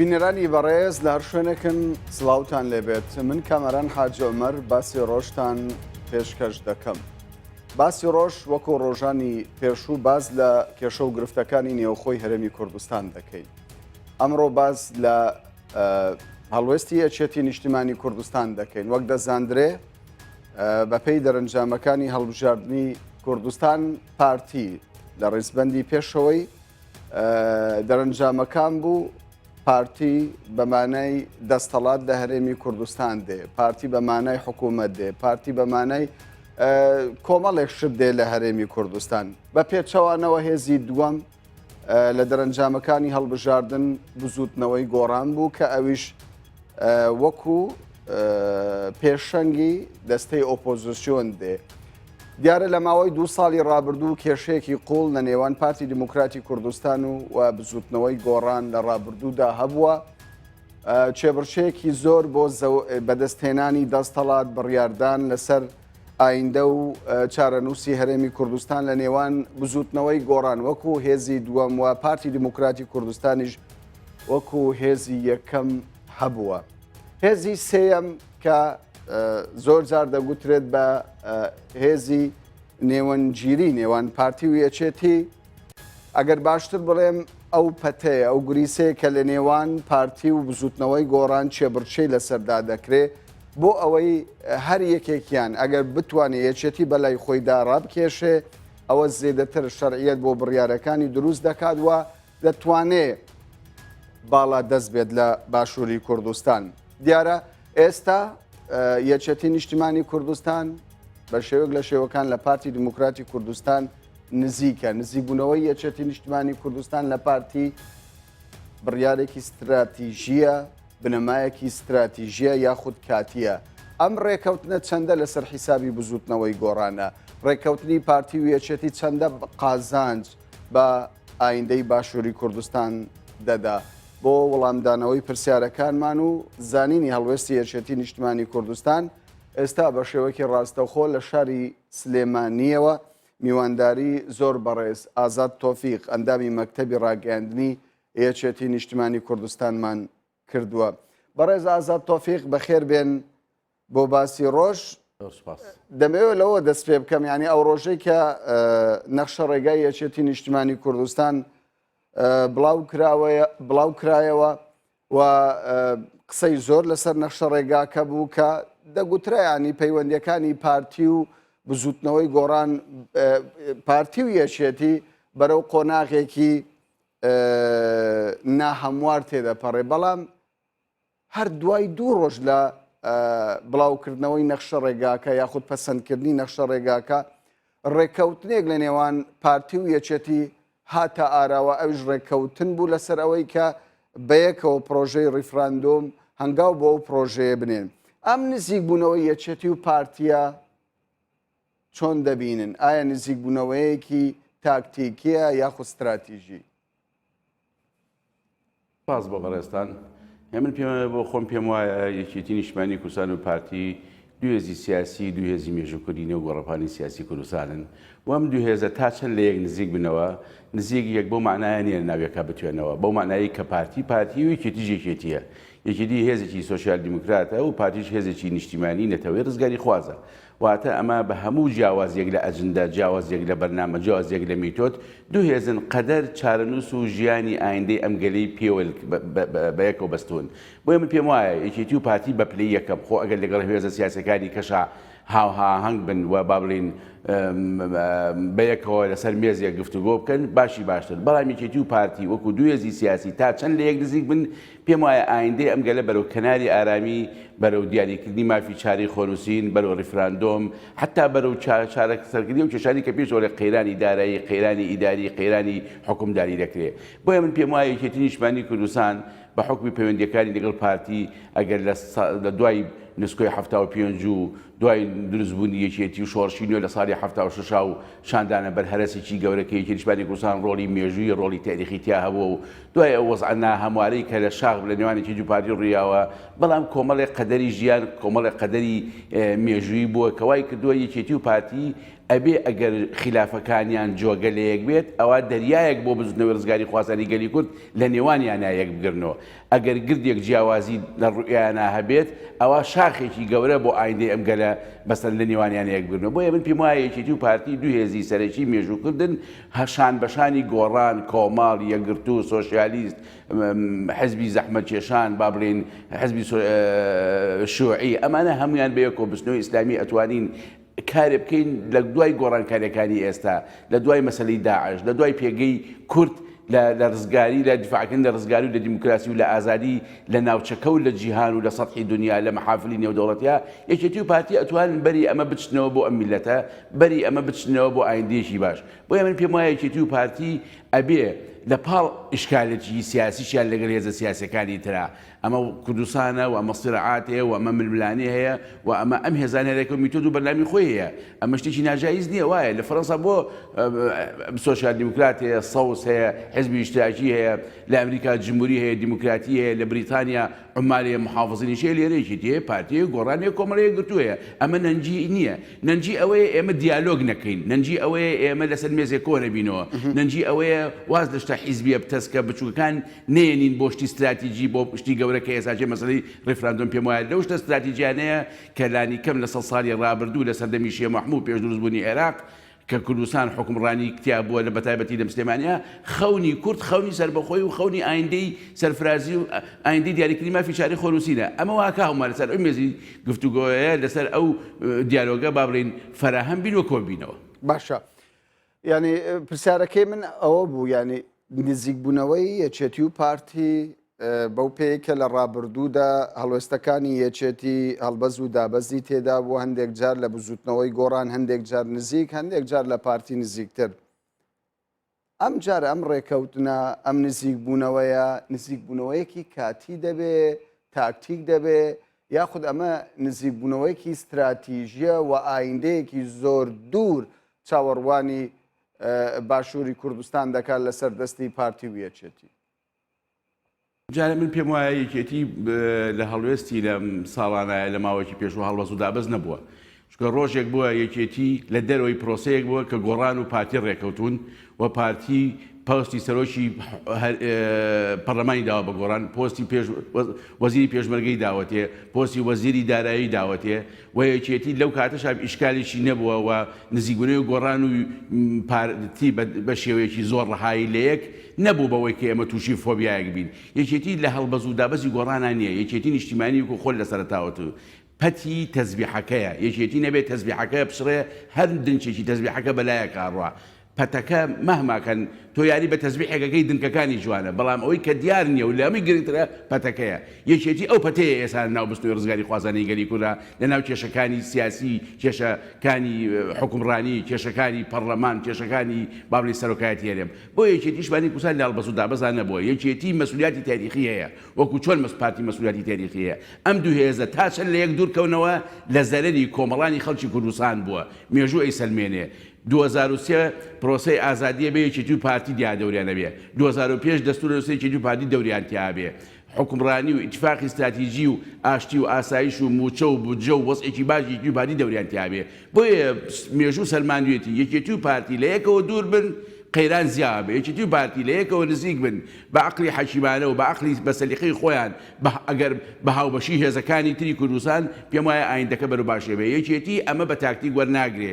بینەرانی بەڕێز لە هەر شوێنێکن سلااوان لێبێت من کامەران حاجۆمەر باسی ڕۆژتان پێشکەش دەکەم. باسی ڕۆژ وەکو ڕۆژانی پێشوو باز لە کێشە و گرفتەکانی نێوخۆی هەرێمی کوردستان دەکەین. ئەمڕۆ باز لە هەڵوێستی یەکێتی نیشتیمانی کوردستان دەکەین وەک دەزاندرێ بەپی دەرنجامەکانی هەڵبژاردننی کوردستان پارتی لە ڕیزبندی پێشەوەی دەرنجامەکان بوو پارتی بەمانای دەستەڵات دە هەرێمی کوردستان دێ پارتی بەمانای حکوومەت دێ پارتی بەمانای کۆمەڵێک شت دێ لە هەرێمی کوردستان بە پێچەوانەوە هێزی دووەم لە دەرەنجامەکانی هەڵبژاردن بزوتنەوەی گۆڕان بوو کە ئەویش وەکو پێشەنگی دەستەی ئۆپۆزیسیۆن دێ دیارە لە ماوەی دو ساڵی رابردوو کێشەیەکی قوڵ لە نێوان پارتی دیموکراتی کوردستان و و بزوتنەوەی گۆڕان لە رابردوودا هەبووە چێبڕچەیەکی زۆر بۆ بەدەستهێنانی دەستەڵات بڕیاردان لەسەر ئایندە و چارەنووسی هەرێمی کوردستان لە نێوان بزوتنەوەی گۆڕان وەکو هێزی دووەم و پارتی دیموکراتی کوردستانیش وەکو هێزی یەکەم هەبووە. هێزی سێەم کە زۆر جار دەگوترێت بە هێزی نێوەنگیری نێوان پارتی و یەچێتی ئەگەر باشتر بڵێم ئەو پەتەیە، ئەو گریسەیە کە لە نێوان پارتی و بزوتنەوەی گۆڕان چێبڕچێی لەسەردا دەکرێ بۆ ئەوەی هەر یەکێکیان ئەگەر بتوانێت یەکێتی بەلای خۆیدا ڕابکێشێ ئەوە زێدەتر شەرعیەت بۆ بڕیارەکانی دروست دەکات وە دەتوانێ باڵا دەست بێت لە باشووری کوردستان دیارە ئێستا یەکێتی نیشتیمانی کوردستان بە شێوک لە شێوەکان لە پارتی دیموکراتی کوردستان نزیکە نزیکبوونەوەی یەکێتی نیشتمانی کوردستان لە پارتی بڕیارێکی ستراتیژیە بنەمایەکی ستراتیژیە یاخود کاتیە ئەم ڕێکەوتنە چەندە لەسەر حیسابی بزوتنەوەی گۆڕانە ڕێککەوتنی پارتی و یەکێتی چەندە قازانج بە ئایندەی باشووری کوردستان دەدا بۆ وەڵامدانەوەی پرسیارەکانمان و زانینی هەڵوێستی یەکێتی نیشتمانی کوردستان ئێستا بە شێوەکی ڕاستەخۆ لە شاری سلێمانییەوە میوانداری زۆر بەڕێز ئازاد تۆفیق ئەندامی مەکتەبی ڕاگەیاندنی یەکێتی نیشتمانی کوردستانمان کردووە بەڕێز ئازاد تۆفیق بەخێر بێن بۆ باسی ڕۆژ دەمەوێت لەوە دەست پێ بکەم ینی ئەو ڕۆژەی کە نەخشە ڕێگای یەکێتی نیشتمانی کوردستان بڵاو کراوەیە بڵاو کرایەوە و قسەی زۆر لەسەر نەخشە ڕێگاکە بوو کە دەگوترایانی پەیوەندیەکانی پارتی و بزوتنەوەی گۆڕان پارتی و یەکێتی بەرەو قۆناغێکی ناهەموار تێدەپەڕێ بەڵام هەر دوای دوو ڕۆژ لە بڵاوکردنەوەی نەخشە ڕێگاکە یاخود پەسەندکردنی نەخشە ڕێگاکە ڕێککەوتنێک لە نێوان پارتی و یەکێتی هاتە ئاراوە، ئەویش ڕێککەوتن بوو لەسەر ئەوەی کە بەیەکەوە پڕۆژەی ڕیفراندۆم هەنگاو بۆ ئەو پڕۆژەیە بنێن. ئەم نزیکبوونەوەی یەکێتی و پارتییە چۆن دەبینن؟ ئایا نزیکبوونەوەیەکی تاکتیکییە یاخود ستراتیژی؟ سپاس بۆ بەڕێزتان. من پێم بۆ خۆم پێم وایە یەکێتی نیشتمانی کوردستان و پارتی دوو هێزی سیاسی دوو هێزی مێژووکردینە و گۆڕەپانی سیاسی کوردستانن و ئەم دوو هێزە تا چەند لە یەک نزیک بنەوە نزیک یەک بۆ مانایە نیە ناوێکا بتوێنەوە بەو مانایی کە پارتی پارتی و یەکێتی یەکێتیە یەکێتی هێزێکی سۆسیال دیموکراتە و پارتیش هێزێکی نیشتیمانی نەتەوەی ڕزگاری خوازە واتە ئەمە بە هەموو جیاوازییەک لە ئەجندە، جیاوازییەک لە بەرنامە، جیاوازییەک لە میتۆد، دوو هێزن قەدەر، چارەنووس و ژیانی ئایندەی ئەم گەلەی پێوە بە یەکەوە بەستوون. بۆیە من پێم وایە یەکێتی و پارتی بە پلەی یەکەم، خۆ ئەگەر لەگەڵ هێزە سیاسییەکانی کەشا هاوهاهەنگ بن و با بڵێین بە یەکەوە لەسەر مێزێک گفتوگۆ بکەن باشی باشتر، بەڵام یەکێتی و پارتی وەکوو دوو هێزی سیاسی تا چەند لە یەک نزیک بن، پێم وایە ئایندەی ئەم گەلە بەرەو کەناری ئارامی، بەرەو دیاریکردنی مافی چارەی خۆنووسین، بەرەو ڕیفراندۆم، حەتا بەرەو چارەسەرکردنی ئەو کێشانەی کە پێشەوە لە قەیرانی دارایی، قەیرانی ئیداری، قەیرانی حوکمداری دەکرێ. بۆیە من پێم وایە یەکێتی نیشتمانی کوردستان بە حوکمی پەیوەندییەکانی لەگەڵ پارتی ئەگەر لە دوای نسکۆی حەفتا و پێنج و دوای دروست بوونی یەکێتی و شۆڕشی نوێ لە ساڵی حەفتا و شەش و شاندانە بەر هەرەسێکی گەورە کە یەکێتیی نیشتمانی کوردستان ڕۆڵی مێژوویی ڕۆڵی تاریخی تیا هەبووە و دوای ئەو وەزعە ناهەموارەی کە لە شاخ لە نێوان یەکێتی و پارتی ڕوویاوە بەڵام کۆمەڵێک قەدەری ژیان کۆمەڵێک قەدەری مێژوویی بووە کە وای کردووە یەکێتی و پارتی ئەبێ ئەگەر خیلافەکانیان جۆگە لە یەک بێت ئەوا دەریایەک بۆ بزووتنەوەی ڕزگاریخوازانی گەلی کورد لە نێوانیانا یەک بگرنەوە ئەگەر گردێک جیاوازی لە ڕوئیایانا هەبێت ئەوا شاخێکی گەورە بۆ ئایندەی ئەم گەلە بەسەر لە نێوانیانە یەک بگرنەوە بۆیە من پێم وایە یەکێتی و پارتی دوو هێزی سەرەکی مێژوو کردن هە شان بەشانی گۆڕان کۆمەڵ یەکگرتوو سۆشیالیست حزبی زەحمەت کێشان با بڵێین حزبی شوعی ئەمانە هەمویان بە یەکۆ بچنەوە ئیسلامی ئەتوانین کارێ بکەین لە دوای گۆڕانکاریەکانی ئێستا، لە دوای مەسەلەی داعش، لە دوای پێگەی کورد لە ڕزگاری، لە دیفاعکردن لە ڕزگاری و لە دیموکراسی و لە ئازادی لە ناوچەکە و لە جیهان و لە سەتحی دونیا لە مەحافلی نێودەوڵەتیا، یەکێتی و پارتی ئەتوانن بەری ئەمە بچنەوە بۆ ئەم میللەتە، بەری ئەمە بچنەوە بۆ ئایندەیەکی باش. بۆیە من پێم وایە یەکێتی و پارتی ئەبێ لە پاڵ ئیشکالێتیی سیاسیشیان لەگەل هێزە سیاسیەکانی ترا، ئەمە و کوردستانە و ئەمە صراعات هەیە و ئەمە ململانێ هەیە و ئەمە ئەم هێزانە هەر یەکە و میتۆد و بەرنامەی خۆی هەیە، ئەمە شتێکی ناجایز نییە وایە، لە فەرەنسا بۆ سۆسیال دیموکرات هەیە، سەوز هەیە، حزبی ئیشتراکی هەیە، لە ئەمریکا جموری هەیە، دیموکراتی هەیە، لە بریتانیا عمالی هەیە، محافظینیش هەیە، لێرە یەکێتی هەیە، پارتی هەیە، گۆڕان هەیە، کۆمەڵە یەکگرتوو هەیە، ئەمە نەنگی نییە. نەنجی ئەوەیە ئێمە دیالۆگ نەکەین، نەنجی ئەوەیە ئێمە لەسەر مێزێ کۆ نەبینەوە، نەنجی ئەوەیە واز لە شتە حیزبییە بتەسکە بچووکەکان نەیەنین بۆ شتی ستراتیجی بۆ شتی گەورە کە ئێساکێ مەسەلەی ریفراندۆم پێم وایە لەو شتە ستراتیجیانەیە کە لانیکەم لە سەد ساڵی رابردوو لە سەردەمی شێ مەحموو و پێش دروست بوونی عێراق کە کوردستان حوکمڕانی تیا بووە لە بەتایبەتی لەم سلێمانییە خەونی کورد خەونی سەربەخۆی و خەونی ئایندەی سەرفرازی و ئایندەی دیاریکردنی مافی شاری خۆنووسینە ئەمە واکاومە لەسەر ئەو مێزی گفتوگۆیە لەسەر ئەو دیالۆگە با بڵێین فەراهەم بین و کۆن بینەوە. باشە یانی پرسیارەکەی من ئەوە بوو یانی نزیکبوونەوەی یەکێتی و پارتی بەو پێی کە لە ڕابردوودا هەڵوێستەکانی یەکێتی هەڵبەز و دابەزی تێدا بوو هەندێک جار لە بزوتنەوەی گۆڕان هەندێک جار نزیک هەندێک جار لە پارتی نزیکتر ئەم جارە ئەم ڕێکەوتنە ئەم نزیک بوونەوەیە نزیک بوونەوەیەکی کاتی دەبێ تاکتیک دەبێ یاخود ئەمە نزیک بوونەوەیەکی استراتیژیە و ئایندەیەکی زۆر دوور چاوەڕوانی باشووری کوردستان دەکات لەسەر دەستی پارتی ویەچێتی جا من پێم وایە یەکێتی لە هەڵوێستی لە ساڵانایە لە ماوەیەکی پێشوە هەڵوەز و دابەز نەبووە چکە ڕۆژێک بووە یەکێتی لە دەرەوەی پرۆسەیەک بووە کە گۆڕان و پارتی ڕێکەوتون و پارتی پۆستی سەرۆکی پەرلەمانی داوا بە گۆڕان پۆستی پێش وەزیری پێشمەرگەی داوەتێ پۆستی وەزیری دارایی داوەتێ و یەکێتی لەو کاتەشا ئیشکالێکی نەبووە و نزیکبوونەوەی گۆڕان و پارتی بە شێوەیەکی زۆر ڕەهایی لە یەک نەبوو بەوەی کە ئێمە تووشی فۆبیایەک بین. یەکێتی لە هەڵبەز و دابەزی گۆڕانا نییە، یەکێتی نیشتیمانی وەکو خۆل لە سەرەتاوە تو پەتی تەزبیحەکەیە، یەکێتی نەبێ تەزبیحەکە بچڕێ هەر دنچێکی تەزبیحەکە بە لایەک ئاڕوا پەتەکە مەهما کەن تۆ یاری بە تەزبیحێکەکەی دنکەکانی جوانە بەڵام ئەوەی کە دیار نیە و لە هەمووی گرنگترە پەتەکەیە یەکێتی ئەو پەتەیە ئێستا لە ناو بستنەوەی ڕزگاری خوازانەی گەلی کوردە لە ناو کێشەکانی سیاسی کێشە کانی حوکمڕانی کێشەکانی پەڕلەمان کێشەکانی با بڵێین سەرۆکایەتی هەرێم بۆ یەکێتی شمانی کوردستان لە هەڵبەست و دابەزا نەبووە یەکێتی مەسولیاتی تاریخی هەیە وەکو چۆن مەس پارتی مەسولیاتی تاریخی هەیە ئەم دوو هێزە تا چەند لە یەک دوور کەونەوە لە زەرەری کۆمەڵانی خەڵکی کوردستان بووە مێژوو ئەیسەلمێنێ دوو هەزار و سێ پرۆسەی ئازادیە بێ یەکێتی و پارتی دیا دەوریان ئەبێ دوو هەزار و پێنج دەستور نوسە یەکێتی و پارتی دەوریان تیا ئەبێ حوکمڕانی و ئیتفاقی ستراتیجی و ئاشتی و ئاسایش و موچە و بودجە و وەزعێکی باش یەکێتی و پارتی دەوریان تیا ئەبێ بۆیە مێژوو سەلماندویەتی یەکێتی و پارتی لە یەکەوە دور بن قەیران زیا ئەبێ یەکێتی و پارتی لە یەکەوە نزیک بن بە ئەقلی حەکیمانە و بە ئەقلی بە سەلیقەی خۆیان بە ئەگەر بە هاوبەشی هێزەکانی تری کوردستان پێم وایە ئایندەکە بەرەو باشی ئەبێ یەکێتی ئەمە بە تاکتیک وەرناگرێ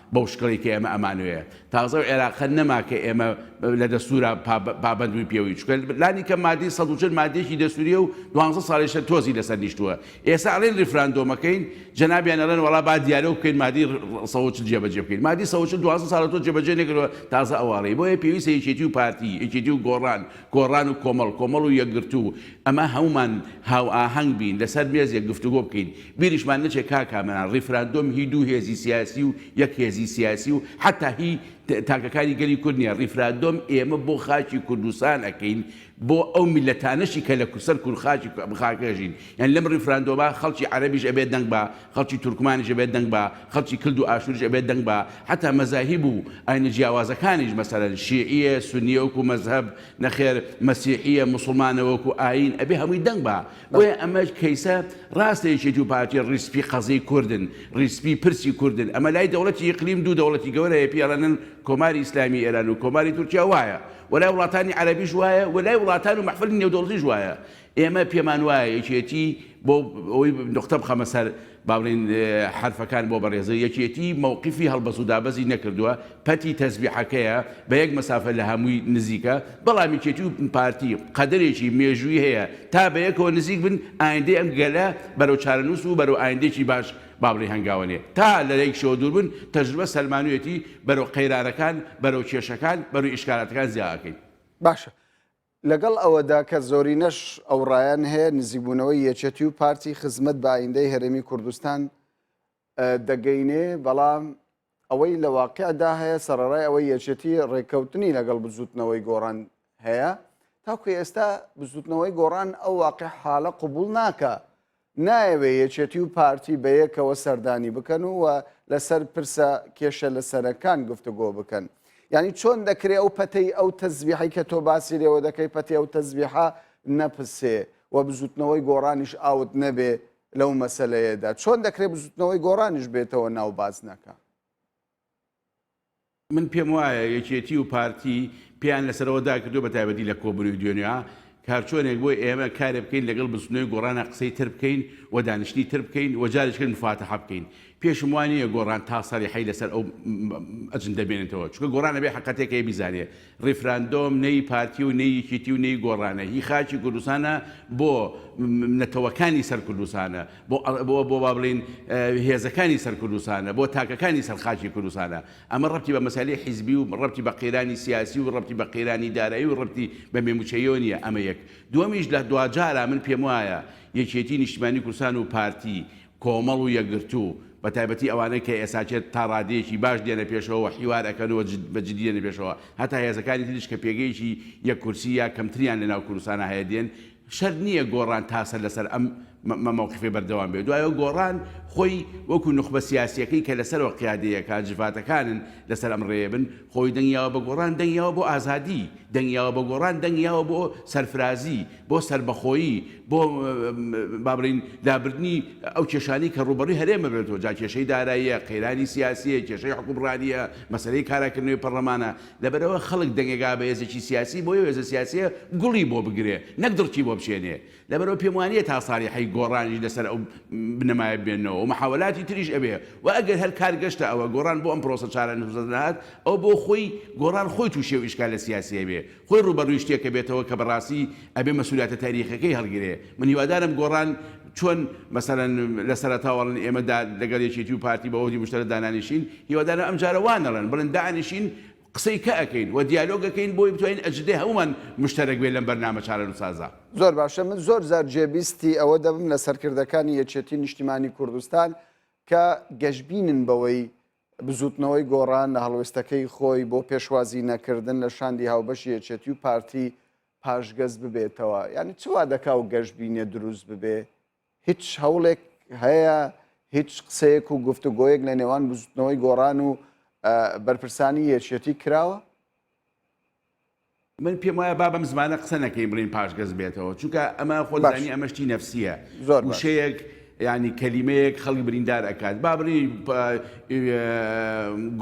بەو شکڵی کە ئێمە ئەمانوێ تازە و عێراقە نەما کە ئێمە لە دەستورا پابندوی پێوی چکە لانی کە مادی سە چل مادێکی دەسووریە و دوانزە ساڵیشە تۆزی لەسەر نیشتووە ئێستا ئەڵێن ریفراندۆمەکەین جەنابیان ئەڵێن وڵا با دیارە بکەین مادی سەوچل جێبەجێ بکەین مادی سەوچل دوازە ساڵە تۆ جێبەجێ نەکردوە تازە ئەواڵی بۆیە پێویستە یەکێتی و پارتی یەکێتی و گۆڕان گۆڕان و کۆمەڵ، کۆمەڵ و یەکگرتوو، ئەمە هەموومان هاوئاهەنگ بین، لەسەر مێزێک گفتوگۆ بکەین. بیریشمان نەچێت کاک کامەران، ڕیفراندۆم هی دوو هێزی سیاسی و یەک هێزی سیاسی و حەتا هی تاکەکانی گەلی کورد نییە، ڕیفراندۆم ئێمە بۆ خاکی کوردستان ئەکەین، بۆ ئەو میللەتانەشی کە لە سەر خاکی ئەم خاکە ئەژین. یانی لەم ڕیفراندۆمە خەڵکی عەرەبیش ئەبێت دەنگ بە خەڵکی تورکمانیش ئەبێت دەنگ بە خەڵکی کلد و ئاشوریش ئەبێت دەنگ بە حەتا مەزاهیب و ئاینە جیاوازەکانیش مەسەلەن شیعیە سونیە وەکو مەزهەب نەخێر مەسیحیە موسڵمانە وەکو ئاین ئەبێ هەمووی دەنگ بە بۆیە ئەمەش کەیسە راستە یەکێتی و پارتی ریز سپی قەزیەی کوردن ریز سپی پرسی کوردن ئەمە لای دەوڵەتی ئیقلیم دوو دەوڵەتی گەورە هەیە پێی ئەڵێنن کۆماری ئیسلامی ئێران و کۆماری تورکیا وایە وەلای وڵاتانی عەرەبیش وایە ولای وڵاتان و مەحفلی نێودەوڵەتیش وایە ئێمە پێمان وایە یەکێتی، بۆ ئەوەی نوقتە بخەمە سەر با بڵێین حەرفەکان بۆ بەڕێزە، یەکێتی مەوقیفی هەڵبەست و دابەزی نەکردووە، پەتی تەزبیحەکەیە، بە یەک مەسافە لە هەمووی نزیکە، بەڵام یەکێتی و پارتی قەدەرێکی مێژووی هەیە تا بە یەکەوە نزیک بن، ئایندەی ئەم گەلە بەرەو چارەنووس و بەرەو ئایندەیەکی باش با بڵێین هەنگاوەنێ، تا لە یەکیشەوە دوور بن، تەجروبە سەلمانویەتی بەرەو قەیرانەکان، بەرەو کێشەکان، بەرەو ئیشکالاتەکان زیا ئەکەین. باشە لەگەڵ ئەوەدا کە زۆرینەش ئەو ڕایەن هەیە، نزیکبوونەوەی یەکێتی و پارتی خزمەت بە ئایندەی هەرێمی کوردستان دەگەینێ، بەڵام ئەوەی لە واقیعدا هەیە سەڕەرای ئەوەی یەکێتی ڕێککەوتنی لەگەڵ بزووتنەوەی گۆڕان هەیە، تاکو ئێستا بزووتنەوەی گۆڕان ئەو واقیحالە قبوڵ ناکا نایەوێ یەکێتی و پارتی بەیەکەوە سەردانی بکەن و لەسەر پرسە کێشە لەسەرەکان گفتوگۆ بکەن یعنی چۆن دەکرێ ئەو پەتەی ئەو تەزبیحی کە تۆ باسی لێوە دەکەی پەتی ئەو تەزبیحە نەپسێ و بزوتنەوەی گۆڕانیش ئاوت نەبێ لەو مەسلەیەدا چۆن دەکرێت بزوتنەوەی گۆڕانیش بێتەوە ناو بازنەکە. من پێم وایە یەکێتی و پارتی پێیان لەسەرەوە داکردووە بەتایبەتی لە کۆبونەوەی دوێنێ کارچۆنێک بۆ ئێمە کارێ بکەین لەگەڵ بزتنۆی گۆڕانا قسەی تر بکەین و دانیشتنی تر بکەین و جارێکی تر مفاتەحە بکەین پێشم وانییە گۆڕان تا سەریحەی لەسەر ئەو ئەجندە بێنێتەوە چونکە گۆڕان ئەبێ حەقەتێک هەیە بیزانێ ڕیفراندۆم نەیی پارتی و نەیی یەکیتی و نەیی گۆڕانە هی خاکی کوردستانە بۆ نەتەوەکانی سەر کوردستانە بۆ بۆ بۆ وا بڵێین هێزەکانی سەر کوردستانە بۆ تاکەکانی سەر خاکی کوردستانە ئەمە ڕەبتی بە مەسەلەی حیزبی و ڕەبتی بە قەیرانی سیاسی و ڕەبتی بە قەیرانی دارایی و ڕەبتی بە مێموچەییەوە نیە ئەمە یەک دوەمیش لە دواجارە من پێم وایە یەکێتی نیشتمانی کوردستان و پارتی کۆمەڵ و یەکگرتوو، بە تایبەتی ئەوانەی کە ئێساچێت تا ڕادەیەکی باش دێنە پێشەوە و حیوار ئەکەن و بە جدی دێنە پێشەوە، هەتا هێزەکانی تریش کە پێگەیەکی یەک کورسی یا کەمتریان لە ناو کوردستانا هەیە دێن، شەرت نییە گۆڕان تا سەر لە سەر ئەم مەوقیفەی بەردەوام بێ، دوایەوە گۆڕان خۆی وەکوو نوخبە سیاسییەکەی کە لە سەرەوە قیادەی ئەکات، جڤاتەکانن لە سەر ئەم ڕێیە بن، خۆی دەنگیاوە بە گۆڕان، دەنگیاوە بۆ ئازادی، دەنگیاوە بە گۆڕان، دەنگیاوە بۆ سەرفرازی، بۆ سەربەخۆیی، بۆ با بڵێین لابردنی ئەو کێشانەی کە ڕووبەڕووی هەرێم ببێتەوە، جا کێشەی داراییە، قەیرانی سیاسییە، کێشەی حوکمڕانییە، مەسەلەی کاراکردنەوەی پەڕڵەمانە، لەبەرئەوە خەڵک دەنگێک ئا بە هێزێکی سیاسی، بۆی ئەو هێزە سیاسییە گوڵی بۆ بگرێ، نەک دڕکی بۆ بچێنێ. لەبەرئەوە پێم وا نییە تا ساڵیحەی گۆڕانیش لەسەر ئەو بنەمایە بمێننەوە و مەحاوەلاتی تریش ئەبێ و ئەگەر هەر کار گەشتە ئەوە گۆڕان بۆ ئەم پڕۆسە چارەنووسە نەهات، ئەوە بۆ خۆی گۆڕان خۆی تووشی ئەو ئیشکالە سیاسییە بێ خۆی ڕووبەڕووی شتێکە بێتەوە کە بەڕاستی ئەبێ مەسولیاتە تاریخیەکەی هەڵگرێ من هیوادارم گۆڕان چۆن مەسەلەن لە سەرەتاوە ئەڵێن ئێمە دا لەگەڵ یەکێتی و پارتی بە عوهدی مشتەرە دانانیشین هیوادارم ئەم جارە وا نەڵێن بڵێن دانیشین قسەی کە ئەکەین و دیالۆگ ئەکەین بۆی بتوانین ئەجندەی هەموومان مشتەرەک بێ لەم بەرنامە چارەنوسازە. زۆر باشە من زۆر جار جێبیستی ئەوە دەبم لە سەرکردەکانی یەکێتی نیشتیمانی کوردستان کە گەشبینن بەوەی بزوتنەوەی گۆڕان لە هەڵوێستەکەی خۆی بۆ پێشوازی نەکردن لە شاندی هاوبەشی یەکێتی و پارتی پاشگەز ببێتەوە یعنی چوا دەکا و گەشت بینێ دروست ببێ هیچ هەوڵێک هەیە هیچ قسەیەک و گفتوگۆیەک لە نێوان بزوتنەوەی گۆڕان و بەرپرسانی یەکێتی کراوە من پێم وایە با بەم زمانە قسە نەکەین بڵێین پاشگەز بێتەوە چونکە ئەمە خۆت باش زانی ئەمە شتی نەفسییە زۆر باش وشەیەک یعنی کەلیمەیەک خەڵک بریندار ئەکات با بڵێین پ- ئێ،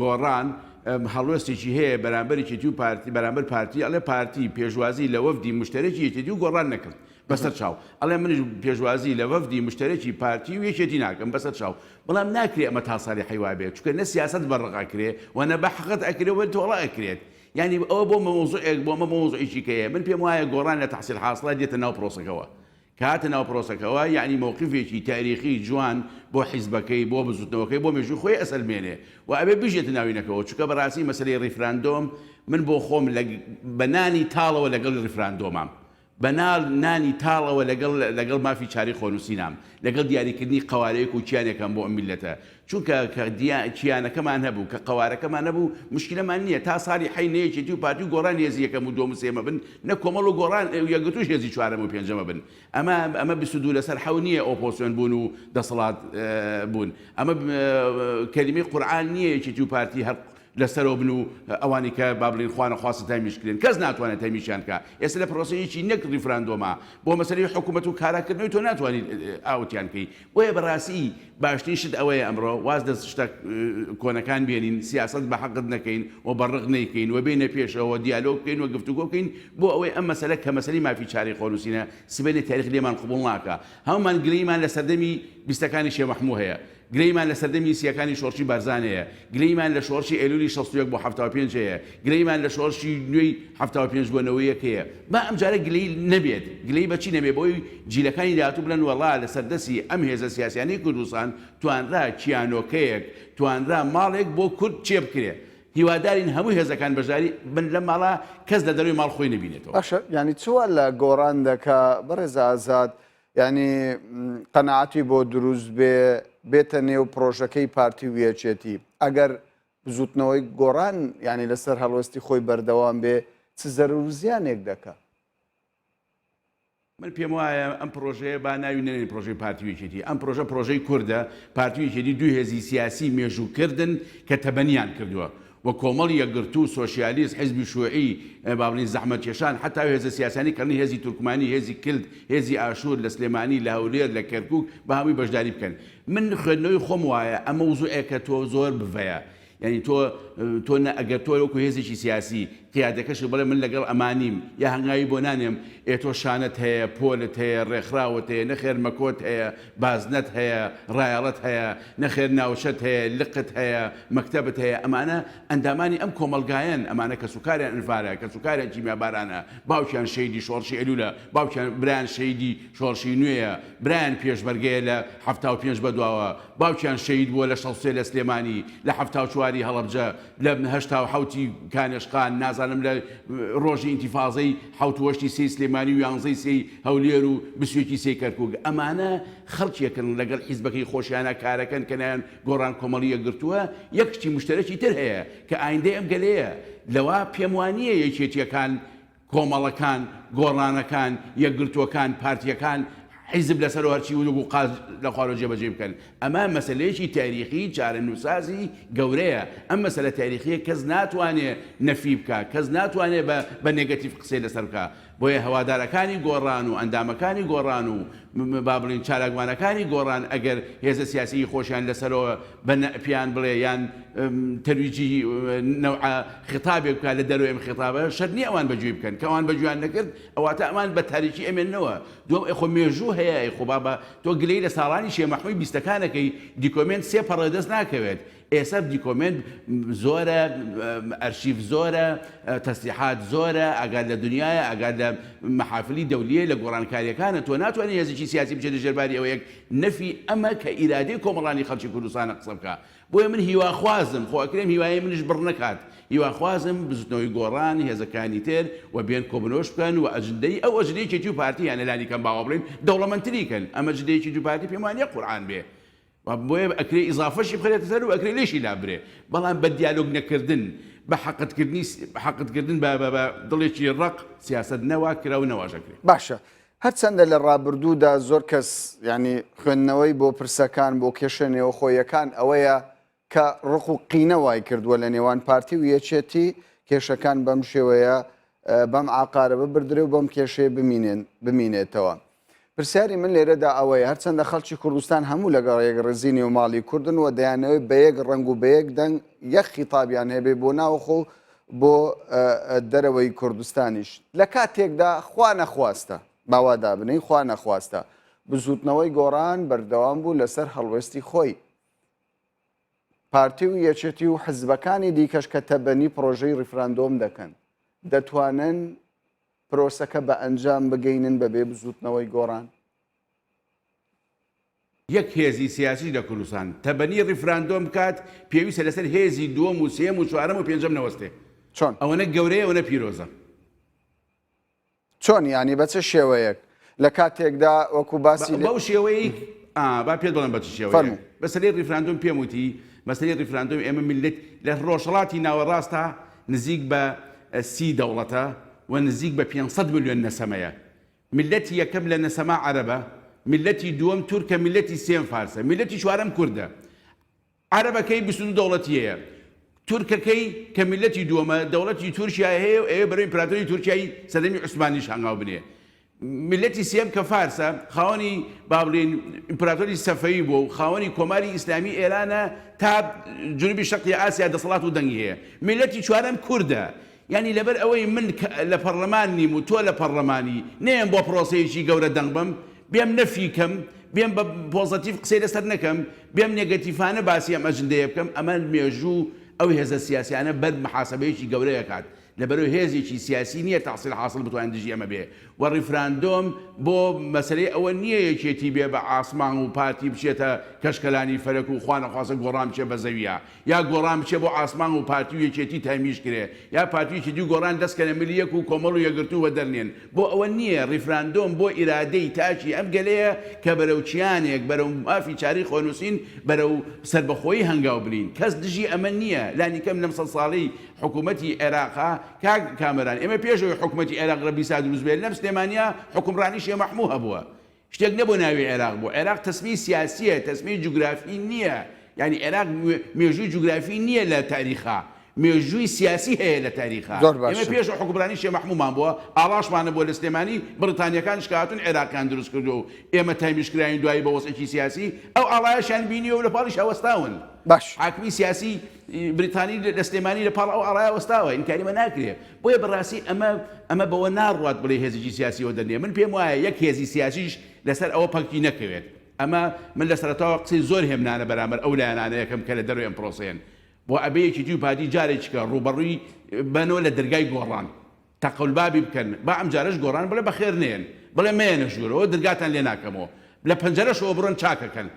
گۆڕان ئەم، هەڵوێستێکی هەیە بەرامبەر یەکێتی و پارتی بەرامبەر پارتی ئەڵێ پارتی پێشوازی لە وەفدی مشتەرەکی یەکێتی و گۆڕان نەکرد بەسەر چاو ئەڵێ منیش پێشوازی لە وەفدی مشتەرەکی پارتی و یەکێتی ناکەم بەسەر چاو بەڵام ناکرێ ئەمە تا ساڵی حیوا بێت چونکە نە سیاسەت بەڕق ئەکرێ و نە بە حەقت ئەکرێ و تۆڵە ئەکرێت یانی ئەوە بۆ مەوزوعێک بۆ ئەمە بۆ مەوزوعێکی کەیە من پێم وایە گۆڕان لە تەحسیل حاسڵە دێتە ناو پرۆسەکەوە کە هاتە ناو پرۆسەکەوە یانی مەوقیفێکی تاریخی جوان بۆ حیزبەکەی بۆ بزوتنەوەکەی بۆ مێژووی خۆی ئەسەلمێنێ و ئەبێ بژێتە ناوینەکەوە چونکە بەراستی مەسەلەی ریفراندۆم من بۆ خۆم لە بە نانی تاڵەوە لەگەڵی ریفراندۆمام بە ناڵ نانی تاڵەوە لەگەڵ لەگەڵ مافی چارەی خۆنووسینام، لەگەڵ دیاریکردنی قەوارەیەک و کیانێکم بۆ ئەم میللەتە، چونکە کە دیا کیانەکەمان هەبوو، کە قەوارەکەمان نەبوو، مشکلەمان نییە، تا ساڵی حەی نە یەکێتی و پارتی و گۆڕان هێزی یەکەم و دووەم و سێیەمە بن، نە کۆمەڵ و گۆڕان و یەکگرتووش هێزی چوارەم و پێنجەمە بن. ئەمە ئەمە بیست و دوو لەسەر حەو نییە ئۆپۆسیۆن بوون و دەسەڵات بوون. ئەمە کەلیمەی قورعان نییە یەکێتی و پارتی هەر لە سەرەوە بن و ئەوانی کە با بڵێن خوا نەخواستە تەمیش کرێن کەس ناتوانێت تەمیشیان کا ئێستا لە پرۆسەیەکی نەک ڕیفراندۆمە بۆ مەسەلەی حکومەت و کارا کردنەوەی تۆ ناتوانیت ئاوتیان کەی بۆیە بە ڕاسی باشترین شت ئەوەیە ئەمڕۆ واز لە شتە کۆنەکان بێنین سیاسەت بە حەقت نەکەین و بە ڕق نەیکەین و بێنە پێشەوە دیالۆگ بکەین و گفتوگۆ بکەین بۆ ئەوەی ئەم مەسەلە کە مەسەلەی مافی چارەی خۆنووسینە سبەینێ تاریخ لێمان قبوڵ ناکا هەموومان گلەیمان لە سەردەمی بیستەکانی شێ مەحموو هەیە گلەیمان لە سەردەمی سییەکانی شۆڕشی بارزان هەیە، گلەیمان لە شۆڕشی ئەیلوولی شەست و یەک بۆ حەفتا و پێنج هەیە، گلەیمان لە شۆڕشی نوێی حەفتا و پێنج بۆ نەوەی یەک هەیە. با ئەمجارە گلەیی نەبێت. گلەیی بە چی نەبێت؟ بەوەی جیلەکانی داهاتوو بڵێن وەڵا لە سەردەستی ئەم هێزە سیاسیانەی کوردستان توانرا کیانۆکەیەک، توانرا ماڵێک بۆ کورد چێ بکرێت. هیوادارین هەموو هێزەکان بەشداری بن لەم ماڵە، کەس لە دەرەوەی ماڵ خۆی نەبینێتەوە. باشە یانی چ وا لە گۆڕان دەکا بەڕێز ئازاد؟ یانی قەناعەتی بۆ دروست بێ بێتە نێو پرۆژەکەی پارتی و یەکێتی ئەگەر بزوتنەوەی گۆڕان ینی لەسەر هەڵوەستی خۆی بەردەوام بێ چ زەرور زیانێک دەکە من پێم وایە ئەم پرۆژەیە با ناوی نەنێن پرۆژەی پارتیویچێتی ئەم پرۆژە پرۆژەی کووردە پارتیویچێتی دوو هێزی سیاسی مێژووکردن کە تەبەنیان کردووە و کۆمەڵی یەکگرتوو، سۆسیالیست، حیزبی شوعی، با بڵێین زەحمەتکێشان، حەتاو هێزە سیاسیانی کەڵنی هێزی تورکمانی، هێزی کلد، هێزی ئاشوور، لە سلێمانی، لە هەولێر، لە کەرکووک، بە هەمووی بەشداری بکەن. من خوێندنەوەی خۆم وایە ئەمەوزوعێکە تۆ زۆر بڤەیە یانی تۆ تۆ نە ئەگەر تۆ وەکو هێزێکی سیاسی پیادەکەش و بڵێ من لەگەڵ ئەما نیم یا هەنگاوی بۆ نانێم، ئێ تۆ شانت هەیە، پۆلت هەیە، ڕێکخراوت هەیە، نەخێر مەکۆت هەیە، بازنەت هەیە، ڕایەڵەت هەیە، نەخێر ناوچەت هەیە، لقت هەیە، مەکتەبت هەیە، ئەمانە ئەندامانی ئەم کۆمەڵگایەن، ئەمانە کەسوکاریان ئەنفالە، کەسوکاریان کیمیابارانە، باوکیان شەهیدی شۆڕشی ئەلولە، باوکیان برایان شەهیدی شۆڕشی نوێیە، برایان پێشمەرگەیە لە حەفتا و پێنج بەدواوە، باوکیان شەهید بووە لە شەست و سێ لە سلێمانی، لە حەفتا و چوار ی هەڵەبجە، لە هەشتا و حەوت ی کانێشقان نازانم لە ڕۆژی ئینتیفازەی حەوت و هەشتی سێی سلێمانی و یانزەی سێی هەولێر و بیست و یەکی سێی کەرکوک ئەمانە خەڵکێکن لەگەڵ حیزبەکەی خۆشیانا کارەکەن کە ناویان گۆڕان کۆمەڵی یەکگرتووە یەک شتی مشتەرەکی تر هەیە کە ئایندەی ئەم گەلەیە لەوا پێم وانییە یەکێتییەکان کۆمەڵەکان، گۆڕانەکان، یەکگرتووەکان، پارتییەکان، حیزب لەسەر و هەرچی ونووک و قاز لە خوارەوە جێبەجێی بکەن. ئەمە مەسەلەیەکی تاریخی چارەنووسسازی گەورەیە. ئەم مەسەلە تاریخییە کەس ناتوانێ نەفی بکا. کەس ناتوانێ بە بە نێگەتیڤ قسەی لەسەر بکا. بۆیە هەوادارەکانی گۆڕان و ئەندامەکانی گۆڕان و با بڵێین چالاکوانەکانی گۆڕان ئەگەر هێزە سیاسیی خۆشیان لەسەرەوە بە نەء پێیان بڵێ یان ترویجیه نوعە خیتابێک بکا لە دەرەوەی ئەم خیتابە، شەرت نییە ئەوان بەگوێی بکەن. کە ئەوان بەگوێیان نەکرد، ئەواتە ئەمان بە تاریکی ئەمێننەوە. دووەم، ئەی خۆ مێژوو هەیە، ئەی خۆ بابە تۆ گلەی لە ساڵانی شێمەحمووی بیستەکان ئەکەی، دیکۆمێنت سێ پەڕە دەست ناکەوێت. ئێسە دیکۆمێنت زۆرە ئەرشیف زۆرە تەسلیحات زۆرە ئەگات لە دنیاە ئەگات لە مەحافلی دەولیە لە گۆڕانکاریەکانە تۆ ناتوانانی هێزیی سیاسی بچێت ژێرباری ئەوەیەک نەفی ئەمە کە ئیرادەی کۆمەڵانی خەڵکی کوردستانە قسە بکە بۆیە من هیواخوازم خۆ ئەکرێم هیوای منش بڕ نەکات هیواخوازم بزوتنەوەی گۆڕان هێزەکانی تر و بێن کۆبنۆش بکەن و ئەجندەی ئەو ئەجنەیەکی تو پارتی یانە لانی کەم باوە بڵین دەوڵەمەندتری کەن ئەمە جدەیەکی دوپارتی پێمانە قورعان بێ وە بۆیە ئەکرێ ئیزافەشی بخرێتە سەر و ئەکرێ لێشی لابرێ بەڵام بە دیالۆگ نەکردن بە حەقد کردنی حەقد کردن بە بە دڵێکی ڕەق سیاسەت نەوا کرا و نەواش ئەکرێ. باشە هەرچەندە لە ڕابردوودا زۆر کەس یانی خوێندنەوەی بۆ پرسەکان بۆ کێشە نێوەخۆیەکان ئەوەیە کە ڕق و قینە وای کردووە لە نێوان پارتی و یەکێتی کێشەکان بەم شێوەیە بەم عاقارە ببردرێ و بەم کێشەیە بمینێن بمینێتەوە. پرسیاری من لێرەدا ئەوەیە هەرچەندە خەڵکی کوردستان هەموو لەگەڵ یەک ڕێزی نێوماڵی کوردن و دەیانەوەی بە یەک ڕنگ و بە یەک دەنگ یەک خیتابیان هەبێ بۆ ناوخۆ و بۆ دەرەوەی کوردستانیش لە کاتێکدا خوا نەخواستە باوادا بنین خوا نەخواستە بزوتنەوەی گۆڕان بەردەوام بوو لەسەر هەڵوێستی خۆی پارتی و یەچێتی و حزبەکانی دیکەش کە تەبەنی پرۆژەی ڕیفراندۆم دەکەن دەتوانن پرۆسەکە بە ئەنجام بگەینن بەبێ بزووتنەوەی گۆڕان. یەک هێزی سیاسیش لە کوردستان تەبەنی ڕیفراندۆم بکات، پێویستە لەسەر هێزی دووەم و سێیەم و چوارەم و پێنجەم نەوەستێ. چۆن؟ ئەوەنە گەورەیە ئەوەنە پیرۆزە. چۆن یانی بە چ شێوەیەک؟ لە کاتێکدا وەکو باسی لێ. بەو شێوەیەی ئا با پێت بڵێم بە چ شێوەیەک. فەرموو. مەسەلەی ڕیفراندۆم پێم وتی، مەسەلەی ڕیفراندۆم ئێمە میللەت لە ڕۆژهەڵاتی ناوەڕاستدا نزیک بە سی دەوڵەتە و نزیک بە پێنج سەد ملیۆن نەسەمەیە. میللەتی یەکەم لە نەسەما عەرەبە، میللەتی دووەم تورکە، میللەتی سێم فارسە، میللەتی چوارەم کوردە. عەرەبەکەی بیست و دوو دەوڵەتی هەیە، تورکەکەی کە میللەتی دووەمە دەوڵەتی تورکیای هەیە و ئەوێ بەرەو ئیمپراتۆری تورکیای سەردەمی عوسمانیش هەنگاو بنێ، میللەتی سێیەم کە فارسە خاوەنی با بڵێین ئیمپراتۆری سەفەوی بووە و خاوەنی کۆماری ئیسلامی ئێرانە تا جنوبی شەرقی ئاسیا دەسەڵات و دەنگی هەیە، میللەتی چوارەم کوردە، یانی لەبەر ئەوەی من لە پەڕلەمان نیم و تۆ لە پەڕلەمانی، نەیەم بۆ پڕۆسەیەکی گەورە دەنگ بەم، بێم نەفی کەم، بێم بە پۆزەتیڤ قسەی لەسەر نەکەم، بێم نێگەتیڤانە باسی ئەم ئەجندەیە بکەم، ئەمە مێژوو ئەو هێزە سیاسیانە بەر محاسەبەیەکی گەورە ئەکات، لەبەرو هێزێکی سیاسی نیە تەحسیل حاسڵ بتوانێت دژی ئەمە بێ و ڕیفراندۆم بۆ مەسەلەی ئەوە نیە یەکێتی بێ بە عاسمان و پارتی بچێتە کەشکەلانی فەلەک و خوانەخواستە گۆڕان بچێ بە زەویا، یا گۆڕان بچێ بۆ عاسمان و پارتی و یەکێتی تەمیج کرێ یا پارتی و یەکێتی و گۆڕان دەست کەنە ملی یەک و کۆمەڵ و یەکگرتوو وەدەر نێن بۆ ئەوە نیە ریفراندۆم بۆ ئیرادەی تاکی ئەم گەلەیە کە بەرەو کیانێک بەرەو مافی چارەی خۆنوسین بەرەو سەربەخۆیی هەنگاو بنین کەس دژی ئەمە نیە لانی کەم لەم سەد ساڵەی حکومەتی عێراقا کاک کامەران ئێمە پێش ئەوەی حکومەتی عێراق لە بیسا دروست بێت لەم سلێمانیا حکومڕانی شێ مەحموو هەبووە شتێک نەبوە ناوی عێراق بوە عێراق تەسمی سیاسیە تەسمی جوگرافی نیە یانی عێراق مێژوی جوگرافی نیە لە تاریخا مێژوی سیاسی هەیە لە تاریخا زۆر ئێمە باشە. پێش حوکمرانی شێ مەحمومان بوە ئاڵاشمان نەبوە لە سلێمانی بڕیتانیەکانیش کە هاتون عێراقیان دروست کردوە و ئێمە تامیش کراین دوایی بە وەزعێکی سیاسی ئەو ئاڵایەشیان بینیوە و لە پاڵیشا وەستاون باش. حاکمی سیاسی بریتانی لە سلێمانی لە پاڵ ئەو ئاڵایە وەستاوە ئینکاری مە ناکرێ بۆیە بەڕاستی ئەمە ئەمە بەوە ناڕوات بڵێی هێزێکی سیاسی ئەوە دەنێ من پێم وایە یەک هێزی سیاسیش لەسەر ئەوە پەکتی نەکەوێت ئەمە من لە سەرەتاوە قسەی زۆر هێمنانە بەرامبەر ئەو لایەنانە یەکەم کە لە دەرەوەی ئەم پرۆسەیەن بۆ ئەبێ یەکیتی و پارتی جارێکیکە ڕووبەڕووی بەنەوە لە دەرگای گۆڕان تەقەولبابی بکەن با ئەمجارەش گۆڕان بڵێ بەخێر نێن بڵێ مەیەنە ژوورەوە درگاتان لێ ناکەمەوە لە پەنجەرەشەوە بڕۆن چاکەکەن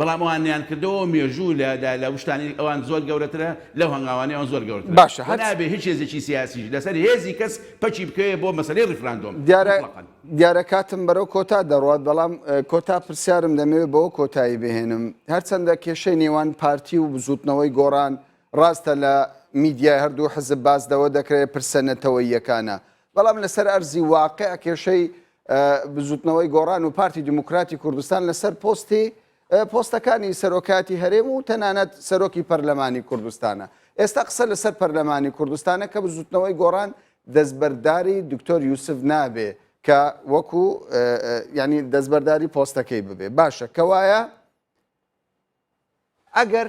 بەڵام ئەوان نیانکردەوەو مێژوو لە دا لە وشکانی ئەوان زۆر گەورەترە لەو هەنگاوانەی ئەوان زۆر گەورەترە باشە و هەچ نابێ هیچ هێزێکی سیاسیش لەسەر هێزی کەس پەکی بکەوێ بۆ مەسەلەی ڕیفراندۆم دیارە موتڵەقەن. دیارە کاتم بەرەو کۆتا دەڕوات بەڵام کۆتا پرسیارم دەمەوێ بەوە کۆتایی بهێنم هەرچەندە کێشەی نێوان پارتی و بزوتنەوەی گۆڕان ڕاستە لە میدیای هەردوو حزب باس لەوە دەکرێ پرسە نەتەوەییەکانە بەڵام لەسەر ئەرزی واقع کێشەی بزوتنەوەی گۆڕان و پارتی دیموکراتی کوردستان لەسەر پۆستی پۆستەکانی سەرۆکاتی هەرێم و تەنانەت سەرۆکی پەرلەمانی کوردستانە ئێستا قسە لەسەر پەرلەمانی کوردستانە کە بزوتنەوەی گۆڕان دەستبەرداری دکتۆر یوسف نابێ کە وەکو ینی دەستبەرداری پۆستەکەی ببێ باشە کەوایە ئەگەر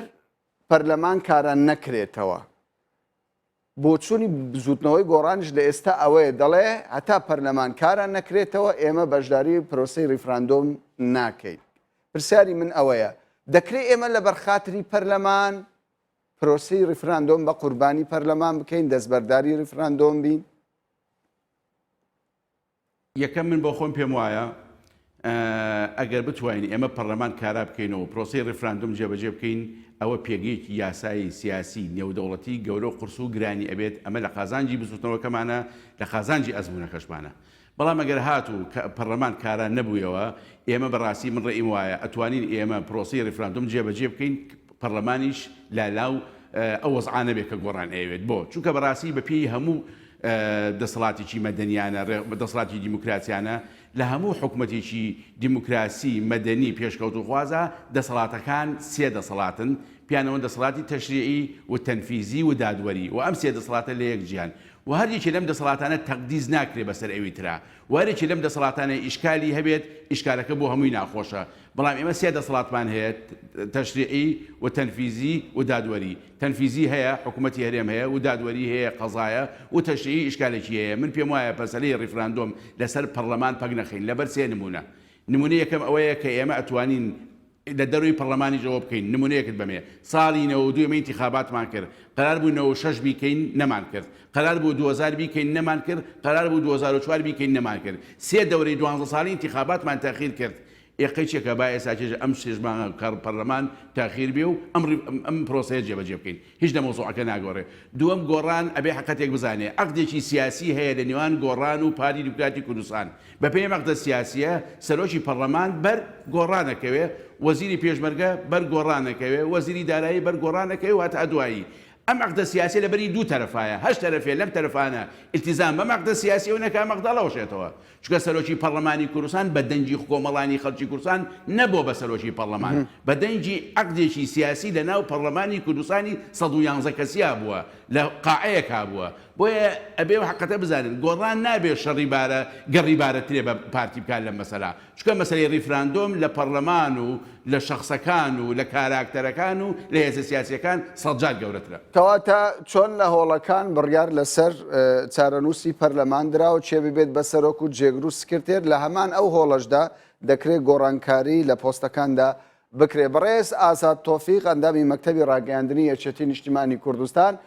پەرلەمان کاران نەکرێتەوە بۆچوونی بزووتنەوەی گۆڕانیش لە ئێستا ئەوەیە، دەڵێ هەتا پەرلەمان کارا نەکرێتەوە ئێمە بەشداری پرۆسەی ریفراندۆم ناکەین. پرسیاری من ئەوەیە، دەکرێ ئێمە لەبەر خاتری پەرلەمان پرۆسەی ریفراندۆم بە قوربانی پەرلەمان بکەین، دەستبەرداری ریفراندۆم بین؟ یەکەم من بۆخۆم پێم وایە ئەگەر بتوانین ئێمە پەڕلەمان کارا بکەینەوە و پرۆسەی ڕیفراندۆم جێبەجێ بکەین ئەوە پێگەیەکی یاسایی سیاسی نێودەوڵەتی گەورە و قورس و گرانی ئەبێت ئەمە لە قازانجی بزوتنەوەکەمانە لە قازانجی ئەزمونەکەشمانە بەڵام ئەگەر هاتوو کە پەڕلەمان کارا نەبوویەوە ئێمە بەڕاستی من ڕێیم وایە ئەتوانین ئێمە پرۆسەی ڕیفراندۆم جێبەجێ بکەین پەڕلەمانیش لالاو ئەو وەزعانە بێ کە گۆڕان ئەیەوێت بۆ چونکە بەڕاستی بە پێی هەموو دەسەڵاتێکی مەدەنیانە، دەسەڵاتێکی دیموکراسیانە، لە هەموو حکومەتێکی دیموکراسی مەدەنی پێشکەوتووخوازا دەسەڵاتەکان سێ دەسەڵاتن، پێیانەوەن دەسەڵاتی تەشریعی و تەنفیزی و دادوەری و ئەم سێ دەسەڵاتە لە یەک جیان و هەر یەکێ لەم دەسەڵاتانە تەقدیس ناکرێ بەسەر ئەوی ترا و هەر یەکێ لەم دەسەڵاتانە ئیشکالی هەبێت ئیشکالەکە بۆ هەمووی ناخۆشە بەڵام ئێمە سێ دەسەڵاتمان هەیە تەشریعی و تەنفیزی و دادوەری تەنفیزی هەیە حکومەتی هەرێم هەیە و دادوەری هەیە قەزایە و تەشریعی ئیشکالێکی هەیە من پێم وایە پەسەلەی ریفراندۆم لەسەر پەڕلەمان پەک نەخەین لەبەر سێ نمونە نمونە یەکەم ئەوەیە کە ئێمە ئەتوانین لە دەرەوەی پەڕلەمانیش ئەوە بکەین نمونەیەکت بەمێ ساڵی نەوەد و دوو ئێمە ئینتیخاباتمان کرد قەرار بوو نەوەد و شەش بیکەین نەمان کرد قەرار بوو دوو هەزار بیکەین نەمان کرد قەرار بوو دوو هەزار و چوار بیکەین نەمان کرد سێ دەورەی دوانزە ساڵی ئینتیخاباتمان تاخیر کرد ئێ قەی چێکە با ئێسا چێژە ئەم شێش مانگە کە پەرلەمان تاخیر بێ و ئەم ڕی ئەم پرۆسەیە جێ بەجێ بکەین هیچ لە مەوزوعەکە ناگۆڕێ دووەم گۆڕان ئەبێ حەقەتێک بزانێ عەقدێکی سیاسی هەیە لە نێوان گۆڕان و پارتی دیموکراتی کوردستان بە پێی ئەم عەقدە سیاسیە سەرۆکی پەرلەمان بەر گۆڕان ئەکەوێ وەزیری پێشمەرگە بەر گۆڕان ئەکەوێ وەزیری دارایی بەر گۆڕان ئەکەوێ و هەتا دوایی ئەم عەقدە سیاسیە لە بەری دوو تەرەفایە هەشت تەرەفێ لەم تەرەفانە ئیلتیزام بەم عەقدە سیاسیەوە نەکا ئەم عەقدە ئەڵەوەشێتەوە چونکە سەرۆکی پەڕلەمانی کوردستان بە دەنگی خکۆمەڵانی خەڵکی کوردستان نەبووە بە سەرۆکی پەڕلەمان، بە دەنگی عەقدێکی سیاسی لە ناو پەڕلەمانی کوردستانی سەد و یانزە کەسییا بووە، لە قاعەیەکا بووە. بۆیە ئەبێ ئەو حەقیقەتە بزانن، گۆڕان نابێ شەڕی بارە گەڕی بارە ترێ بە پارتی بکات لەم مەسەلا، چونکە مەسەلەی ڕیفراندۆم لە پەڕلەمان و لە شەخسەکان و لە کاراکتەرەکان و لە هێزە سیاسییەکان سەد جار گەورەترە. کەواتە چۆن لە هۆڵەکان بڕیار لەسەر چارەنووسی پەرلەمان درا و کێ ببێت بە سەرۆک و جێگر و سکرتێر، لە هەمان ئەو هۆڵەشدا دەکرێ گۆڕانکاری لە پۆستەکاندا بکرێ؟ بەڕێز ئازاد تۆفیق، ئەندامی مەکتەبی ڕاگەیاندنی یەکێتی نیشتیمانی کوردستان،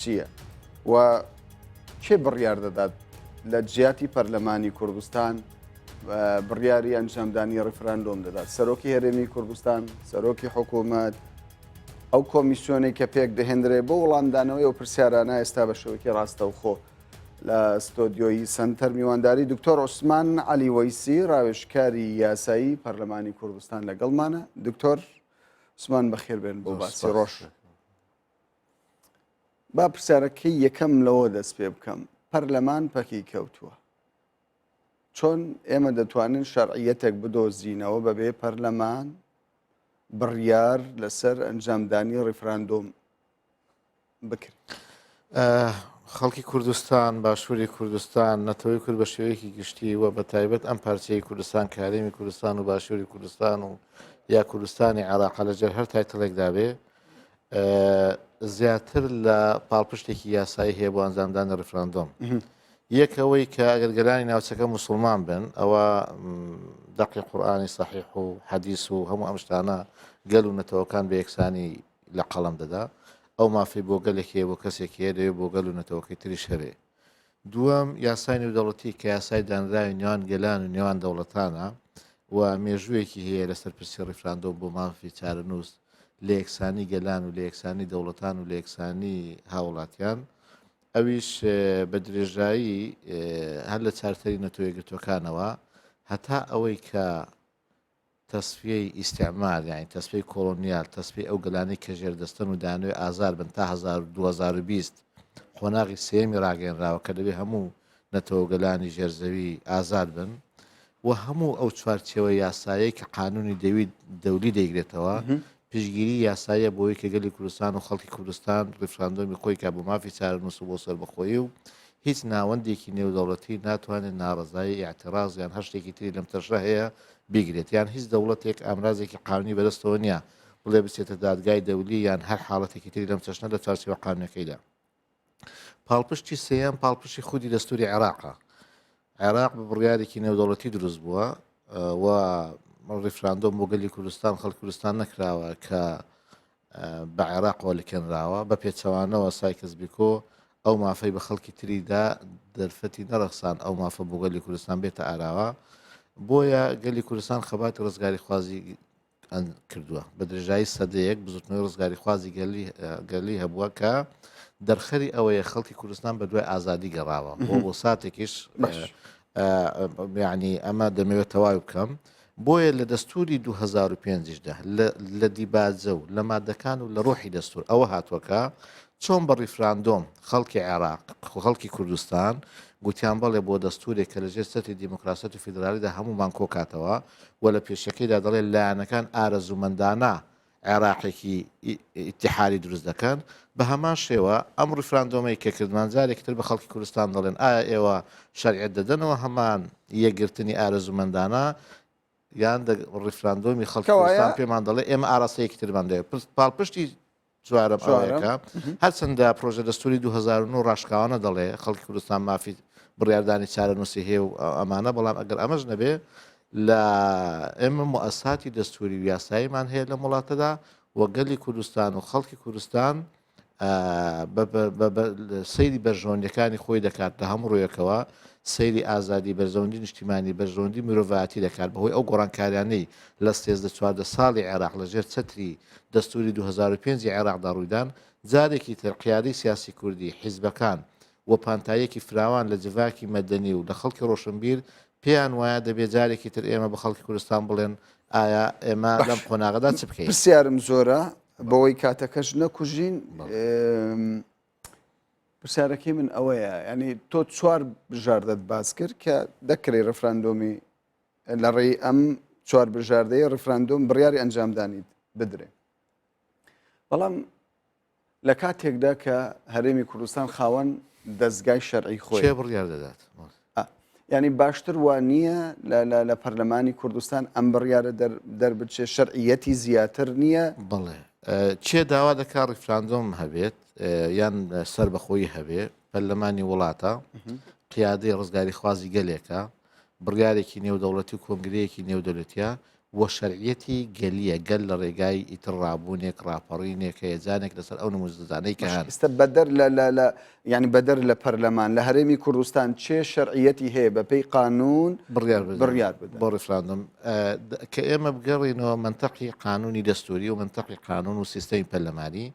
چییە و کێ بڕیار دەدات لە جیاتی پەرلەمانی کوردستان بڕیاری ئەنجامدانی ڕیفراندۆم دەدات سەرۆکی هەرێمی کوردستان سەرۆکی حکوومەت ئەو کۆمیسیۆنی کە پێک دەهێنرێ بۆ وڵامدانەوەی و پرسیارانە ئێستا بە شەوکی ڕاستەوخۆ لە ستۆدیۆیی سنتەر میوانداری دکتۆر عوسمان علی وەیسی ڕاوێشکاری یاسایی پەرلەمانی کوردستان لەگەڵمانە دکتۆر عوسمان بەخێربێن بۆ باسی ڕۆژ با پرسیارەکەی یەکەم لەوە دەست پێ بکەم پەرلەمان پەکی کەوتووە چۆن ئێمە دەتوانین شەرعیەتێک بدۆزینەوە بەبێ پەرلەمان بڕیار لەسەر ئەنجامدانی ڕیفراندۆم بکرێت خەڵکی کوردستان باشووری کوردستان نەتەوەی کورد بە شێوەیەکی گشتی و بە تایبەت ئەم پارچەی کوردستان کارێمی کوردستان و باشووری کوردستان و یا کوردستانی عراق لەجێر هەر تایتڵێکدا بێ زیاتر لە پاڵپشتێکی یاسایی هەیە بۆ ئەنجامدانی ڕفراندۆم یەکەوەی کە ئەگەر گەلانی ناوچەکە مسلمان بن ئەوە دەقی قورآانی سەحیح و حەدیس و هەموو ئەمشتانە گەل و نەتەوەکان بە یەکسانی لە قەڵم دەدا ئەو مافی بۆ گەلێک هەیە بۆ کەسێک هەیە دەوێت بۆ گەل و نەتەوەکەی تریش هەبێ دووەم، یاسای نێودەوڵەتی کە یاسای دانراوی نێوان گەلان و نێوان دەوڵەتانە و مێژوویەکی هەیە لەسەر پرسی ڕیفراندۆم بۆ مافی چارەنووس لە یەکسانی گەلان و لە یەکسانی دەوڵەتان و لە یەکسانی هاوڵاتیان ئەویش بە درێژایی هەر لە چارتەری نەتەوە یەکگرتووەکانەوە هەتا ئەوەی کە تەسفیەی ئیستیعمار یانی تەسفیەی کۆڵۆنیال تەسفیەی ئەو گەلانەی کە ژێر دەستەن و دەیانەوێ ئازار بن تا هەزار و دوو هەزار و بیست قۆناغی سێیەمی ڕاگەیەنراوە کە دەبێ هەموو نەتەوە و گەلانی ژێر زەوی ئازاد بن و هەموو ئەو چوارچێوە یاسایەی کە قانونی دەوی دەولی دەیگرێتەوە پشگیری یاساییە بۆی کە گەلی کوردستان و خەڵکی کوردستان ڕیفراندۆمی خۆی کا بۆ مافی چارەنووس و بۆ سەربەخۆیی و هیچ ناوەندێکی نێودەوڵەتی ناتوانێت ناڕەزایی، ئیعتراز، یان هەر شتێکی تری لەم چەشنە هەیە بیگرێت، یان هیچ دەوڵەتێک ئامرازێکی قانونی بەدەستەوە نییە بڵێ بچێتە دادگای دەولی یان هەر حاڵەتێکی تری لەم چەشنە لە چوارچێوە قانونەکەیدا. پاڵپشتی سێیەم پاڵپشتی خودی دەستوری عێراقە. عێراق بە بڕیارێکی نێودەوڵەتی دروست بووە و ڕیفراندۆم بۆ گەلی کوردستان خەڵک کوردستان نەکراوە کە بە عێراقەوە لکێنراوە، بە پێچەوانەوە سایکس بیکۆ ئەو مافەی بە خەڵکی تری دا، دەرفەتی نەڕەخساند ئەو مافە بۆ گەلی کوردستان بێتە ئاراوە، بۆیە گەلی کوردستان خەباتی ڕزگاریخوازی کردووە بە درێژایی سەدەیەک بزوتنەوەی ڕزگاریخوازی گەلی گەلی هەبووە کە دەرخەری ئەوەیە خەڵکی کوردستان بە دوای ئازادی گەڕاوە بۆ بۆ ساتێکیش ینی ئەمە دەمەوێت تەواوی بکەم بۆیە لە دەستووری دوو هەزار و پێنج یشدا لە لە دیباجە و لە مادەکان و لە ڕۆحی دەستوور ئەوە هاتووە کە چۆن بە ڕیفراندۆم خەڵکی عێراق خو خەڵکی کوردستان گوتیان بەڵێ بۆ دەستوورێک کە لەژێر چەتری دیموکراسیەت و فیدرالیدا هەموومان کۆکاتەوە و لە پێشەکیدا دەڵێ لایەنەکان ئارەزوومەندانە عێراقێکی ئیتیحادی دروست دەکەن، بە هەمان شێوە ئەم ڕیفراندۆمەی کە کردمان جارێکی تر بە خەڵکی کوردستان دەڵێن ئایا ئێوە شەرعیەت دەدەنەوە هەمان یەکگرتنی ئارەزوومەندانە یان ڕیفراندۆمی خەڵکی کوردستان پێمان دەڵێ ئێمە ئاراستەیەکی ترمان دەوێت پرس پاڵپشتی چوارە پاوەیەەکە هەرچەندە پرۆژە دەستوری 2009 ڕاشکاوانە دەڵێ خەڵکی کوردستان مافی بڕاردانی چارە نووسی هەیە و ئەمانە بەڵام ئەگەر ئەمەش نەبێ لە ئێمە موئەسساتی دەستووری و یاساییمان هەیە لەم وڵاتەدا و گەلی کوردستان و خەڵکی کوردستان سەیری بەرژەوەندەکانی خۆی دەکات لە هەموو ڕوویەکەوە سەیری ئازادی بەرزەوەندی نیشتیمانی بەرزەوەندی مرۆڤاتی دەکات بەهۆی ئەو گۆڕانکاریانەی لە سێزدە چواردە ساڵی عێراق لەژێر چەتری دەستوری 2005 عێراقدا ڕوویدان جارێکی تر قیادی سیاسی کوردی حیزبەکان و پانتاییەکی فراوان لە جڤاکی مەدەنی و لە خەڵکی ڕۆشنبیر پێیان وایە دەبێ جارێکی تر ئێمە بە خەڵکی کوردستان بڵێن ئایا ئێمە لەم قۆناغەدا چ بکەین؟ پرسیارم زۆرە بەوەی کاتەکەش نەکوژین پرسیارەکەی من ئەوەیە ینی تۆ چوار بژاردەت باس کرد کە دەکری ڕفراندۆمی لە ڕێی ئەم چوار بژاردەیە ڕفراندۆم بڕیاری ئەنجامدانیت بدرێ بەڵام لە کاتێکدا کە هەرێمی کوردستان خاوەن دەستگای شەرعی خۆی کێ بڕیار دەدات ئا، یعنی باشتر وا نییە لە- لە- لە پەرلەمانی کوردستان ئەم بڕیارە دەر- دەربچێ شەرعیەتی زیاتر نییە بەڵێ ئە، کێ داوا دەکا ڕیفراندۆم هەبێت ئە، یان سەربەخۆیی هەبێ پەرلەمانی وڵاتە قیادەی ڕزگاریخوازی گەلێکە بڕیارێکی نێودەوڵەتی و کۆنگرەیەکی نێودەولەتیە و شەرعیەتی گەلیە، گەل لە رێگای ئیتر رابوونێک، راپەڕینێک، هەیەجانێک لەسەر ئەو نموزەزانەی کە هەن. ئیستە بەدەر لە لە لە یانی بەدەر لە پەرلەمان لە هەرێمی کوردستان چێ شەرعیەتی هەیە بە پێی قانوون بڕیار بدەن بڕیار بدەن؟ بۆ ریفراندۆم کە ئێمە بگەڕێینەوە مەنتەقی قانوونی دەستووری و مەنتەقی قانوون و سیستەمی پەرلەمانی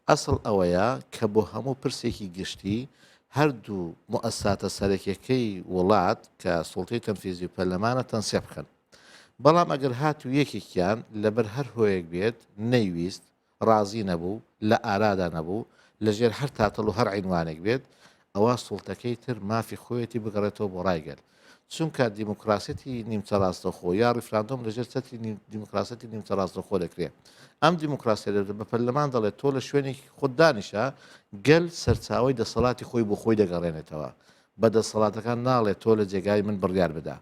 ئەسڵ ئەوەیە کە بۆ هەموو پرسێکی گشتی هەردوو موئەسساتە سەرەکیەکەی وڵات کە سوڵتەی تەنفیزی و پەرلەمانە تەنسیق بکەن. بەڵام ئەگەر هاتوو یەکێکیان لەبەر هەر هۆیەک بێت نەیویست، ڕازی نەبوو، لە ئارادا نەبوو، لەژێر هەر تاتڵ و هەر عینوانێک بێت، ئەوا سوڵتەکەی تر مافی خۆیەتی بگەڕێتەوە بۆ ڕای گەل. چونکە دیموکراسیەتی نیمچە ڕاستەوخۆ یا ڕیفراندۆم لە ژێر چەتری دیموکراسیەتی نیمچە ڕاستەوخۆ دەکرێ. ئەم دیموکراسیە دەبێت بە پەرلەمان دەڵێت تۆ لە شوێنێکی خۆت دانیشە، گەل سەرچاوەی دەسەڵاتی خۆی بۆ خۆی دەگەڕێنێتەوە، بە دەسەڵاتەکان ناڵێت تۆ لە جێگای من بڕیار بدە.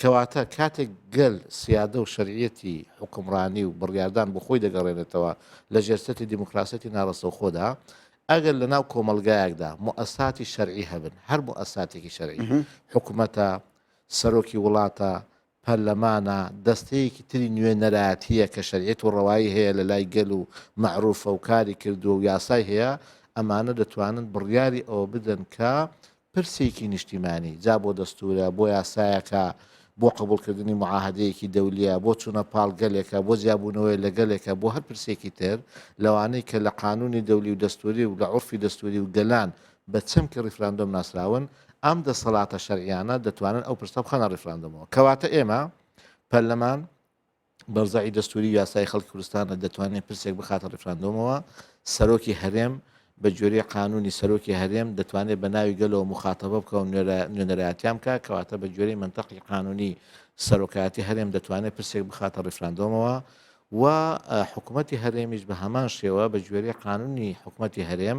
کەواتە کاتێک گەل سیادە و شەرعیەتی حوکمڕانی و بڕیاردان بۆ خۆی دەگەڕێنێتەوە لە ژێر چەتری دیموکراسیەتی ناڕەسەوخۆدا، ئەگەر لە ناو کۆمەڵگایەکدا موئەساتی شەرعی هەبن، هەر موئەساتێکی شەرعی، حکومەتە، سەرۆکی وڵاتە، پەرلەمانە، دەستەیەکی تری نوێنەرایەتییە کە شەریعەت و ڕەوایی هەیە لە لای گەل و مەعروفە و کاری کردووە و یاسای هەیە، ئەمانە دەتوانن بڕیاری ئەوە بدەن کە پرسێکی نیشتیمانی، جا بۆ دەستوورە، بۆ یاسایەکە، بۆ قبوڵکردنی موعاهەدەیەکی دەولییە، بۆ چوونە پاڵ گەلێکە، بۆ جیابوونەوەیە لە گەلێکە، بۆ هەر پرسێکی تر لەوانەی کە لە قانوونی دەولی و دەستووری و لە عورفی دەستووری و گەلان بە چەمکی ڕیفراندۆم ناسراون، ئەم دەسەڵاتە شەرعییانە دەتوانن ئەو پرسە بخەنە ڕیفراندۆمەوە. کەواتە ئێمە، پەرلەمان، بەرزعی دەستوری و یاسایی خەڵکی کوردستانە دەتوانێت پرسێک بخاتە ڕیفراندۆمەوە، سەرۆکی هەرێم بە گوێرەی قانونی سەرۆکی هەرێم دەتوانێت بە ناوی گەلەوە موخاتەبە بکا و نوێنەرایەتیان بکا کەواتە بە گوێرەی مەنتەقی قانونی سەرۆکایەتی هەرێم دەتوانێت پرسێک بخاتە ڕیفراندۆمەوە و حکوومەتی هەرێمیش بە هەمان شێوە بە گوێرەی قانونی حکوومەتی هەرێم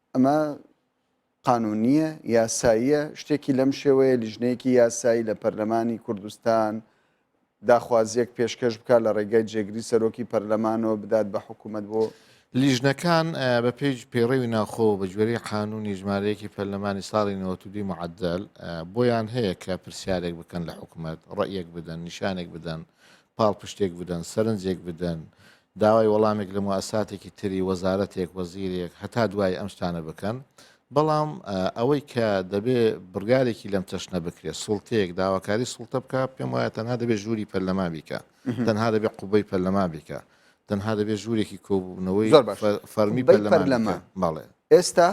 ئەمە قانونیە یاساییە شتێکی لەم شێوەیە لیژنەیەکی یاسایی لە پەرلەمانی کوردستان داخوازیەک پێشکەش بکە لە ڕێگای جێگری سەرۆکی پەرلەمانەوە بدات بە حکوومەت بۆ لیژنەکان بە پێی پێڕەوی ناخۆ بە گوێری قانونی ژمارەیەکی پەرلەمانی ساڵی نەوەتودی معدل بۆیان هەیە کە پرسیارێک بکەن لە حکوومەت ڕەیەک بدەن نیشانێک بدەن پاڵپشتێک بدەن سەرنجێک بدەن داوای وەڵامێک لە موئەسساتێکی تری وەزارەتێک، وەزیرێک، هەتا دوایی ئەم شتانە بکەن، بەڵام ئەوەی کە دەبێ بڕیارێکی لەم چەشنە بکرێت، سوڵتەیەک داواکاری سوڵتە بکا، پێم وایە تەنها دەبێ ژووری پەرلەمان بیکا، تەنها دەبێ قوبەی پەرلەمان بیکا، تەنها دەبێ ژوورێکی کۆبوونەوەی فەرمی پەرلەمان بیکا. بەڵێ. ئێستا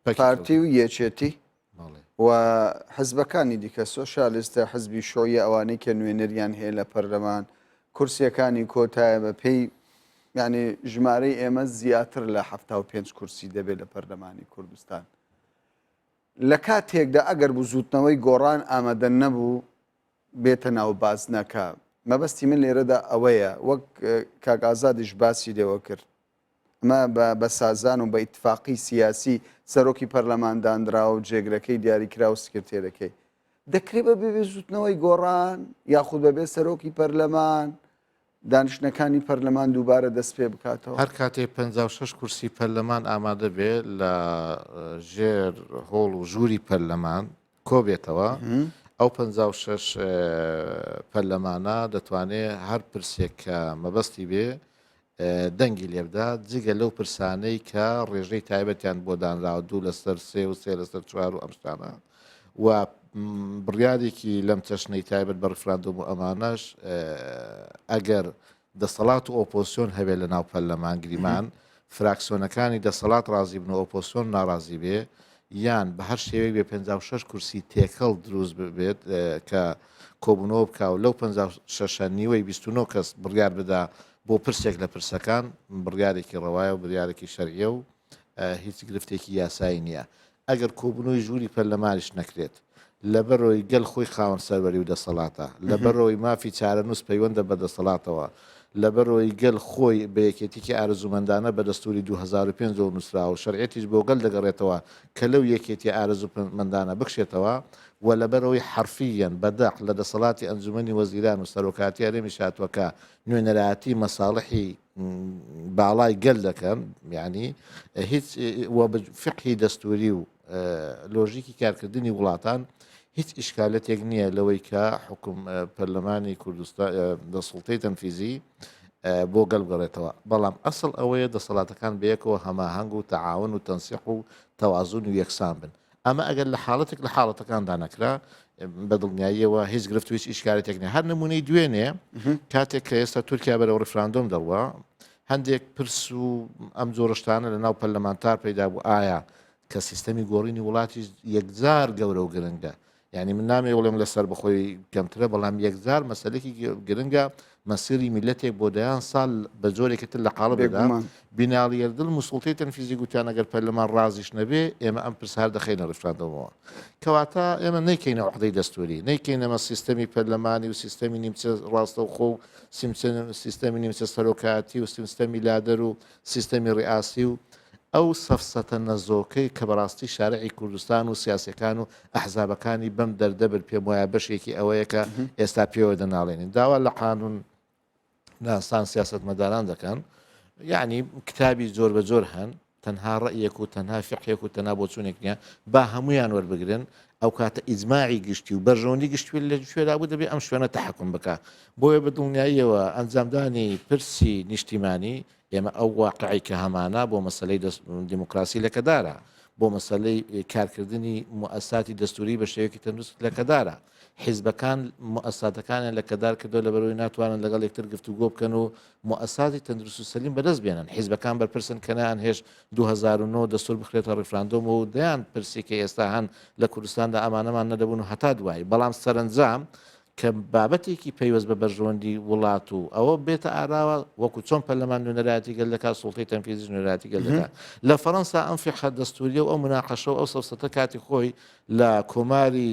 پارتی و یەکێتی و حزبەکانی دیکە، سۆشیالیستە، حزبی شوعیە ئەوانەی کە نوێنەریان هەیە لە پەرلەمان، کورسیەکانی کۆتایە بە پێی یعنی ژمارەی ئێمە زیاتر لە حەفتا و پێنج کورسی دەبێت لە پەرلەمانی کوردستان. لە کاتێکدا ئەگەر بزوتنەوەی گۆڕان ئامادە نەبوو بێتە ناو بازنەکە مەبەستی من لێرەدا ئەوەیە وەک کاک ئازادیش باسی لێوە کرد ئەمە بە بە سازان و بە ئیتفاقی سیاسی سەرۆکی پەرلەمان دانراوە و جێگرەکەی دیاریکرا و سکرتێرەکەی دەکرێت بە بێ بزوتنەوەی گۆڕان یاخود بەبێ سەرۆکی پەرلەمان دانیشتنەکانی پەرلەمان دووبارە دەست پێ بکاتەوە هەر کاتێ 56 کورسی پەرلەمان ئامادە بێ لە ژێر هۆڵ و ژووری پەرلەمان کۆبێتەوە، ئەو پەنجا و شەش پەرلەمانە دەتوانێت هەر پرسێک کە مەبەستی بێ دەنگی لێبدا جگە لەو پرسانەی کە ڕێژەی تایبەتیان بۆ دانراوە دوو لەسەر سێ و سێ لەسەر چوار و ئەمشتانە و بڕیارێکی لەم چەشنەی تایبەت بە ڕفراندۆم و ئەمانەش ئەگەر دەسەڵات و ئۆپۆزسیۆن هەبێ لە ناو پەرلەمان، گریمان، فراکسیۆنەکانی دەسەڵات ڕازی بن و ئۆپۆزسیۆن ناڕازی بێ، یان بە هەر شێوەیەک بێ پەنجا و شەش کورسی تێکەڵ دروست ببێت کە کۆبوونەوە بکا و لەو پەنجا و شەشە نیوەی بیست و نۆ کەس بڕیار بدا بۆ پرسێک لە پرسەکان، بڕیارێکی ڕەوایە و بریارێکی شەرعییە و هیچ گرفتێکی یاسایی نییە. ئەگەر کۆبونەوەی ژووری پەرلەمانیش نەکرێت، لەبەرەوەی گەل خۆی خاوەن سەروەری و دەسەڵاتە، لەبەرەوەی مافی چارەنووس پەیوەندە بە دەسەڵاتەوە، لەبەرەوەی گەل خۆی بە یەکێتیکی ئارەزوومەندانە بە دەستوری دوو هەزار و پێنج ەوە نووسراوە و شەرعیەتیش بۆ گەل دەگەڕێتەوە کە لەو یەکێتیە ئارەزوومەندانە بکشێتەوە و لەبەرەوەی حەرفییەن بە دەق لە دەسەڵاتی ئەنجومەنی وەزیران و سەرۆکایەتی هەرێمیش هاتووە کە نوێنەرایەتی مەساڵحی باڵای گەل دەکەن یعنی هیچ فقهی دەستوری و لۆژیکی کارکردنی وڵاتان هیچ ئیشکالەتێک نییە لەوەی کە حکوم پەرلەمانی کوردستان دەسڵتەی تەنفیزی بۆ گەل بگەڕێتەوە بەڵام ئەسڵ ئەوەیە دەسەڵاتەکان بەیەکەوە هەماهنگ و تەعاون و تەنسیح و تەوازون و یەکسان بن ئەمە ئەگەر لە حاڵەتێک لە حاڵەتەکاندا نەکرا بە دڵنیاییەوە هیچ گرفت هیچ ئیشکارێتێک نێ هەر نمونەی دوێنێ کاتێک کە ئێستا تورکیا بەرەوە ڕفراندۆم دەڕوە هەندێک پرس و ئەم جۆرشتانە لە ناو پەرلەمانتار پەیدا بوو ئایا کە سیستەمی گۆڕینی وڵاتی یەکجار گەورە و گرنگە یعنی من نامێ وڵێم لەسەر بخۆی گەمترە بەڵام یەکجار مەسلێکی گرنگە مەسیری میلەتێک بۆ دەیان سال بە جۆرێکی تر لە قاڵب دەدا. بێگومان. بینالی یەردل موسڵتەی تەنفیزی گوتیان ئەگەر پەرلەمان ڕازیش نەبێ ئێمە ئەم پرسە هەر دەخەینە ڕیفراندۆمەوە. کەواتە ئێمە نەیکەینە عوحدەی دەستووری، نەیکەینەمە سیستەمی پەرلەمانی و سیستەمی نیمچە ڕاستەوخۆ و سیمچە سیستەمی نیمچە سەرۆکایەتی و سیمستەمی لادەر و سیستەمی ریاسی و ئەو سەفسەتە نەزۆکەی کە بەراستی شارعی کوردستان و سیاسیەکان و ئەحزابەکانی بەم دەردە بن پێم وایە بەشێکی ئەوەیە کە ئێستا پێوە دەناڵێنین داوا لە قانون ناسان سیاسەتمەداران دەکەن یعنی کتابی زۆر بە زۆر هەن تەنها ڕئیەک و تەنها فقێک و تەنا بۆچوونێک نیە با هەمویان وەربگرن ئەو کاتە ئیزماعی گشتی و بەرژەوەندی گشتوێت لە شوێرا بوو دەبێت ئەم شوێنە تحکم بکە بۆیە بە دڵنیاییەوە ئەنجامدانی پرسی نیشتیمانی، ئێمە ئەو واقعی کە هەمانە بۆ مەسەلەی دیموکراسی لەکەدارە، بۆ مەسەلەی کارکردنی موئەساتی دەستووری بە شێوەیەکی تەندروست لەکەدارە. حیزبەکان موئەساتەکانیان لەکەدار کردووە لەبەرئەوەی ناتوانن لەگەڵ یەکتر گفتوگۆ بکەن و موئەساتی تەندروست و سەلیم بەدەست بێنن. حیزبەکان بەرپرسن کە نەیانهێشت دوو هەزار و نۆ دەستوور بخرێتە ڕیفراندۆمەوە و دەیان پرسی کە ئێستا هەن لە کوردستاندا ئەمانەمان نەدەبوون و هەتا دوایی. بەڵام سەرەنجام کە بابەتێکی پەیوەست بە بەرژەوەندی وڵات و ئەوە بێتە ئاراوە وەکو چۆن پەرلەمان نوێنەرایەتی گەل دەکات سوڵتەی تەنفیزیش نوێنەرایەتی گەل دەکات لە فەرەنسا ئەم فیقە دەستوریە و ئەو مناقەشە و ئەو سەفسەتە کاتی خۆی لە کۆماری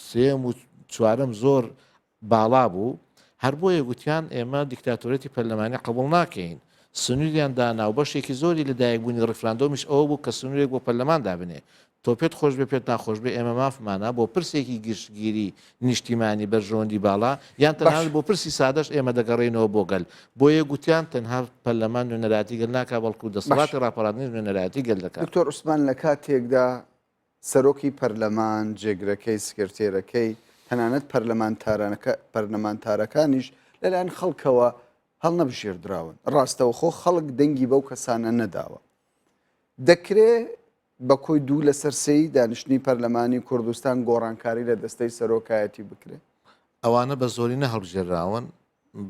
سێم و چوارم زۆر باڵا بوو هەر بۆیە گوتیان ئێمە دیکتاتۆرێتی پەرلەمانی قبول ناکەین سنووریان دانا و بەشێکی زۆری لە دایکبوونی ڕفراندۆمیش ئەوە بوو کە سنوورێک بۆ پەرلەمان دابنێ تۆ پێت خۆشبێ پێت ناخۆشبێ ئێمە مافمانە بۆ پرسێکی گشتگیری نیشتیمانی بەرژەوەندی باڵا یان تەنانەت باشە. بۆ پرسی سادەش ئێمە دەگەڕێینەوە بۆ گەل، بۆیە گوتیان تەنها پەرلەمان نوێنەرایەتی گەل ناکا بەڵکو باشە. دەسەڵاتی ڕاپەڕاندنیش نوێنەرایەتی گەل دەکا. دکتۆر عوسمان لە کاتێکدا سەرۆکی پەرلەمان، جێگرەکەی، سکرتێرەکەی، تەنانەت پەرلەمانتارانەکە پەرلەمانتارەکانیش لەلایەن خەڵکەوە هەڵنەبژێردراون، ڕاستەوخۆ خەڵک دەنگی بەو کەسانە نەداوە، دەکرێ بە کۆی دوو لەسەر سێی دانیشتنی پەرلەمانی کوردستان گۆڕانکاری لە دەستەی سەرۆکایەتی بکرێت. ئەوانە بە زۆرینە هەڵبژێرراون،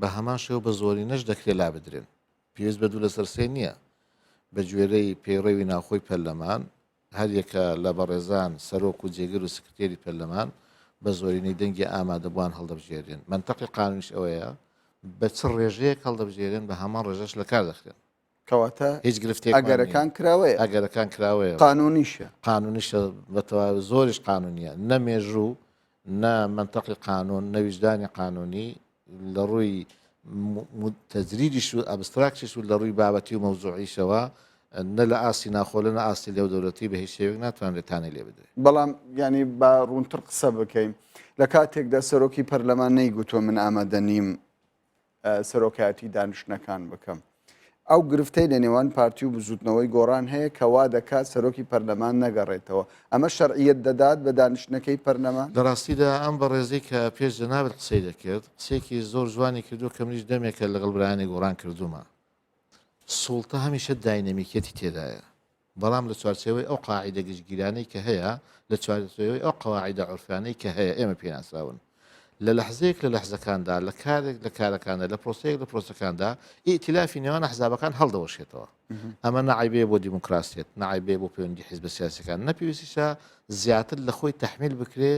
بە هەمان شێوە بە زۆرینەش دەکرێت لابدرێن. پێویست بە دوو لەسەر سێ نییە. بەگوێرەی پەیڕەوی ناوخۆی پەرلەمان، هەریەکە لە بەڕێزان سەرۆک و جێگر و سکرتێری پەرلەمان بە زۆرینەی دەنگی ئامادەبووان هەڵدەبژێررێن. مەنتەقی قانونیش ئەوەیە بە چ ڕێژەیەک هەڵدەبژێرێن، بە هەمان ڕێژەش لەکار دەخرێن. کەواتە هیچ گرفتێکمان نییە. ئەگەرەکان کراوەیە. ئەگەرەکان کراوەیە. قانوونیشە. قانوونیشە بە تەواوی، زۆریش قانوونییە. نە مێژوو، نە مەنتەقی قانوون، نە ویژدانی قانوونی لە ڕووی تەجریدیش و ئەبستراکتیش و لە ڕووی بابەتی و مەوزووعیشەوە نە لە ئاستی ناوخۆ لە نە ئاستی نێودەولەتی بە هیچ شێوەیەک ناتوانرێت تانەی لێ بدرێت. بەڵام یانی با ڕوونتر قسە بکەین، لە کاتێکدا سەرۆکی پەرلەمان نەیگوتووە من ئامادە نیم سەرۆکایەتی دانیشتنەکان بکەم. ئەو گرفتەی لە نێوان پارتی و بزووتنەوەی گۆڕان هەیە کە وا دەکات سەرۆکی پەرلەمان نەگەڕێتەوە، ئەمە شەرعیەت دەدات بە دانیشتنەکەی پەرلەمان؟ لە ڕاستیدا ئەم بەڕێزەی کە پێش جەنابت قسەی دەکرد، قسەیەکی زۆر جوانی کردووە کە منیش دەمێکە لەگەڵ برایانی گۆڕان کردوومە. سوڵتە هەمیشە داینەمیکیەتی تێدایە. بەڵام لە چوارچێوەی ئەو قاعیدە گشتگیرانەی کە هەیە، لە چوارچێوەی ئەو قواعیدە عورفیانەی کە هەیە ئێمە پێی ناسراون. لە لەحزەیەک لە لەحزەکاندا، لە کارێک لە کارەکاندا، لە پرۆسەیەک لە پرۆسەکاندا، ئیئتیلافی نێوان ئەحزابەکان هەڵدەوەشێتەوە. ئەمە نە عەیبەیە بۆ دیموکراسیەت، نە عەیبەیە بۆ پەیوەندی حیزبە سیاسیەکان، نە پێویستیشە زیاتر لە خۆی تەحمیل بکرێ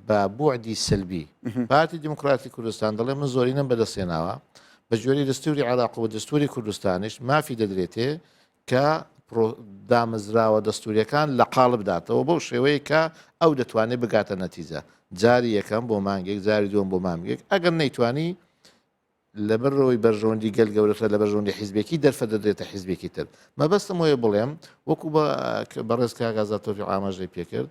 بە بوعدی سەلبی. پارتی دیموکراتی کوردستان دەڵێ من زۆرینەم بەدەستهێناوە، بە گوێرەی دەستوری عێراق و دەستوری کوردستانیش مافی دەدرێتێ کە پرۆ دامەزراوە دەستووریەکان لە قاڵب داتەوە بەو شێوەیە کە ئەو دەتوانێت بگاتە نەتیجە جاری یەکەم بۆ مانگێک جاری دووەم بۆ مامگێک ئەگەر نەیتوانی لەبەرەوەی بەرژەوەندی گەل گەورەتە لە بەرژەوەندی حیزبێکی دەرفە دەدرێتە حیزبێکی تر مەبەستم وەیە بڵێم وەکو بە بەڕێز کاگازاتۆری ئاماژەی پێکرد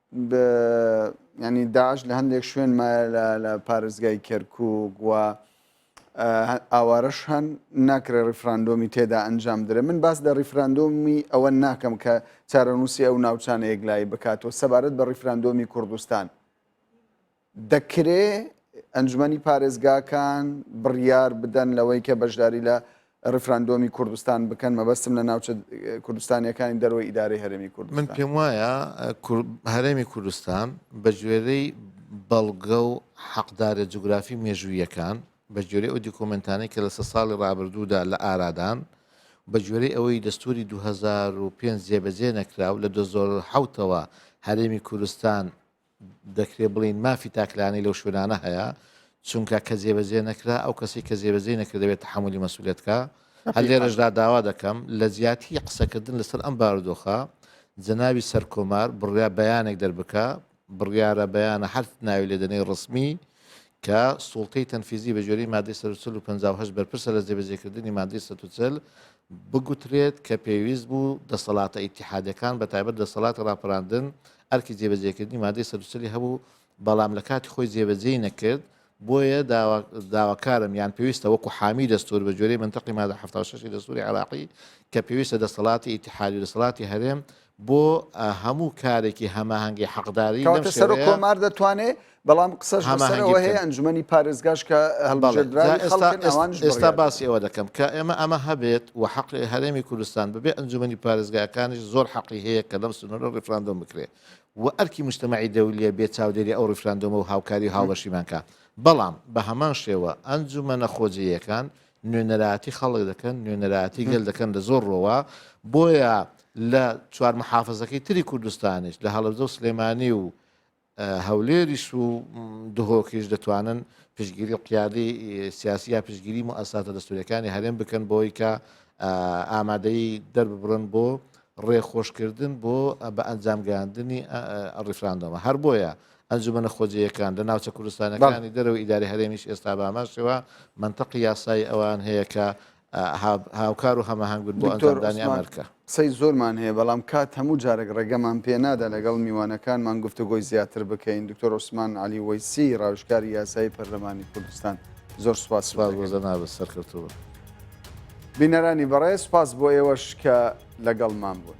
بە ینی داعش لە هەندێک شوێن مایە لە پارێزگای کەرکک و ئاوارەش هەن ناکرێ ڕیفراندۆمی تێدا ئەنجام درێ من باس لە ڕیفراندۆمی ئەوە ناکەم کە چارەنووسی ئەو ناوچانە یەکلایی بکاتەوە سەبارەت بە ڕیفراندۆمی کوردستان دەکرێ ئەنجومەنی پارێزگاکان بڕیار بدەن لەوەی کە بەشداری لە ڕفراندۆمی کوردستان بکەن مەبەستم لە ناوچە کوردستانیەکانی دەرەوەی ئیدارەی هەرێمی کوردستان من پێم وایە هەرێمی کوردستان بە گوێرەی بەڵگە و حەقدارە جوگرافی مێژوویەکان بە گوێرەی ئەو دیکۆمنتانەی کە لەسە ساڵی ڕابردوودا لە ئارادان بە گوێرەی ئەوەی دەستوری 2005 جێبەجێ نەکراو لە 2010ەوە هەرێمی کوردستان دەکرێت بڵێین مافی تاکلایەنەی لەو شوێنانە هەیە چونکە کە جێبەجێ نەکرا ئەو کەسی کە جێبەجێ نەکردەوێت تحملی مەسوولێتکە هەر لێرەشدا داوا دەکەم لە جیاتی قسەکردن لەسەر ئەم بارودۆخە جەناوی سەرکۆمار بڕیا بەیانێک دەربکە بڕیارە بەیانە هەر ناوی لێدەنەی ڕسمی کە سوڵتەی تەنفیزی بە جۆری مادەی سەرچل و 1950 بەرپرسە لە جێبەجێکردنی مادەی سەچل بگوترێت کە پێویست بوو دەسەڵاتە ئیتیحادیەکان بە تایبەت دەسەڵاتی ڕاپەراندن ئەرکی جێبەجێکردنی مادەی سەد و چلی هەبوو بەڵام لە کاتی خۆی جێبەجێی نەکرد بۆیە داواکارم یان پێویستە وەکو حامی دەستور بە جۆرەی منتەقی مادە 76 دەستوری عراقی کە پێویستە دەسەڵاتی ئیتحادی دەسەڵاتی هەرێم بۆ هەموو کارێکی هەماهەنگی حەقداری لەم کەواتە سەرۆک شێوەیە کۆمار دەتوانێ بەڵام قسەش لەسەر هەماهەنگی ئەوە هەیە بکەن. ئەنجومەنی پارێزگاش کە بەڵێ جا هەڵبژێردراوی ئێستا خەڵکن ئێس- ئەوانش ئێستا بڕیار باسی ئەوە دەکەم کە ئێمە ئەمە هەبێت و حەقی هەرێمی کوردستان بەبێ ئەنجومەنی پارێزگاکانیش زۆر حەقی هەیە کە لەم سنوورە ڕیفراندۆم بکرێ و ئەرکی مجتەمەعی دەولیە بێ چاودێری ئەو ڕیفراندۆمە و هاوکاری و هاوبەشیمان کا بەڵام بە هەمان شێوە ئەنجومەنە خۆجێیەکان نوێنەرایەتی خەڵک دەکەن نوێنەرایەتی گەل دەکەن لە زۆر ڕۆوە بۆیە لە چوار محافزەکەی تری کوردستانیش لە هەڵبزە و سلێمانی و هەولێریش و دهۆکیش دەتوانن پشگیری قیادی سیاسی یا پشگیری و ئەساتە دەستوریەکانی هەرێم بکەن بۆی کە ئامادەی دەرببڕن بۆ ڕێخۆشکردن بۆ بە ئەنجامگەاندنی ڕیفراندۆمە هەر بۆیە ئەنجومەنە خۆجێیەکان لە ناوچە کوردستانەکانی دەرەوەی ئیدارەی هەرێمیش ئێستا بە هەمان شێوە مەنتەقی یاسایی ئەوان هەیە کە هاوکار و هەماهەنگ بن بۆ ئەنجامدانی ئەم ئەرکە. قسەی زۆرمان هەیە بەڵام کات هەموو جارێک ڕێگەمان پێ نادا لەگەڵ میوانەکانمان گفتوگۆی زیاتر بکەین دکتۆر عوسمان عەلی وەیسی ڕاوێژکاری یاسایی پەرلەمانی کوردستان زۆر سوپاس سوپاس بۆ جەنابت سەرکەوتوو بن. بینەرانی بەڕێز سوپاس بۆ ئێوەش کە لەگەڵمان بوون.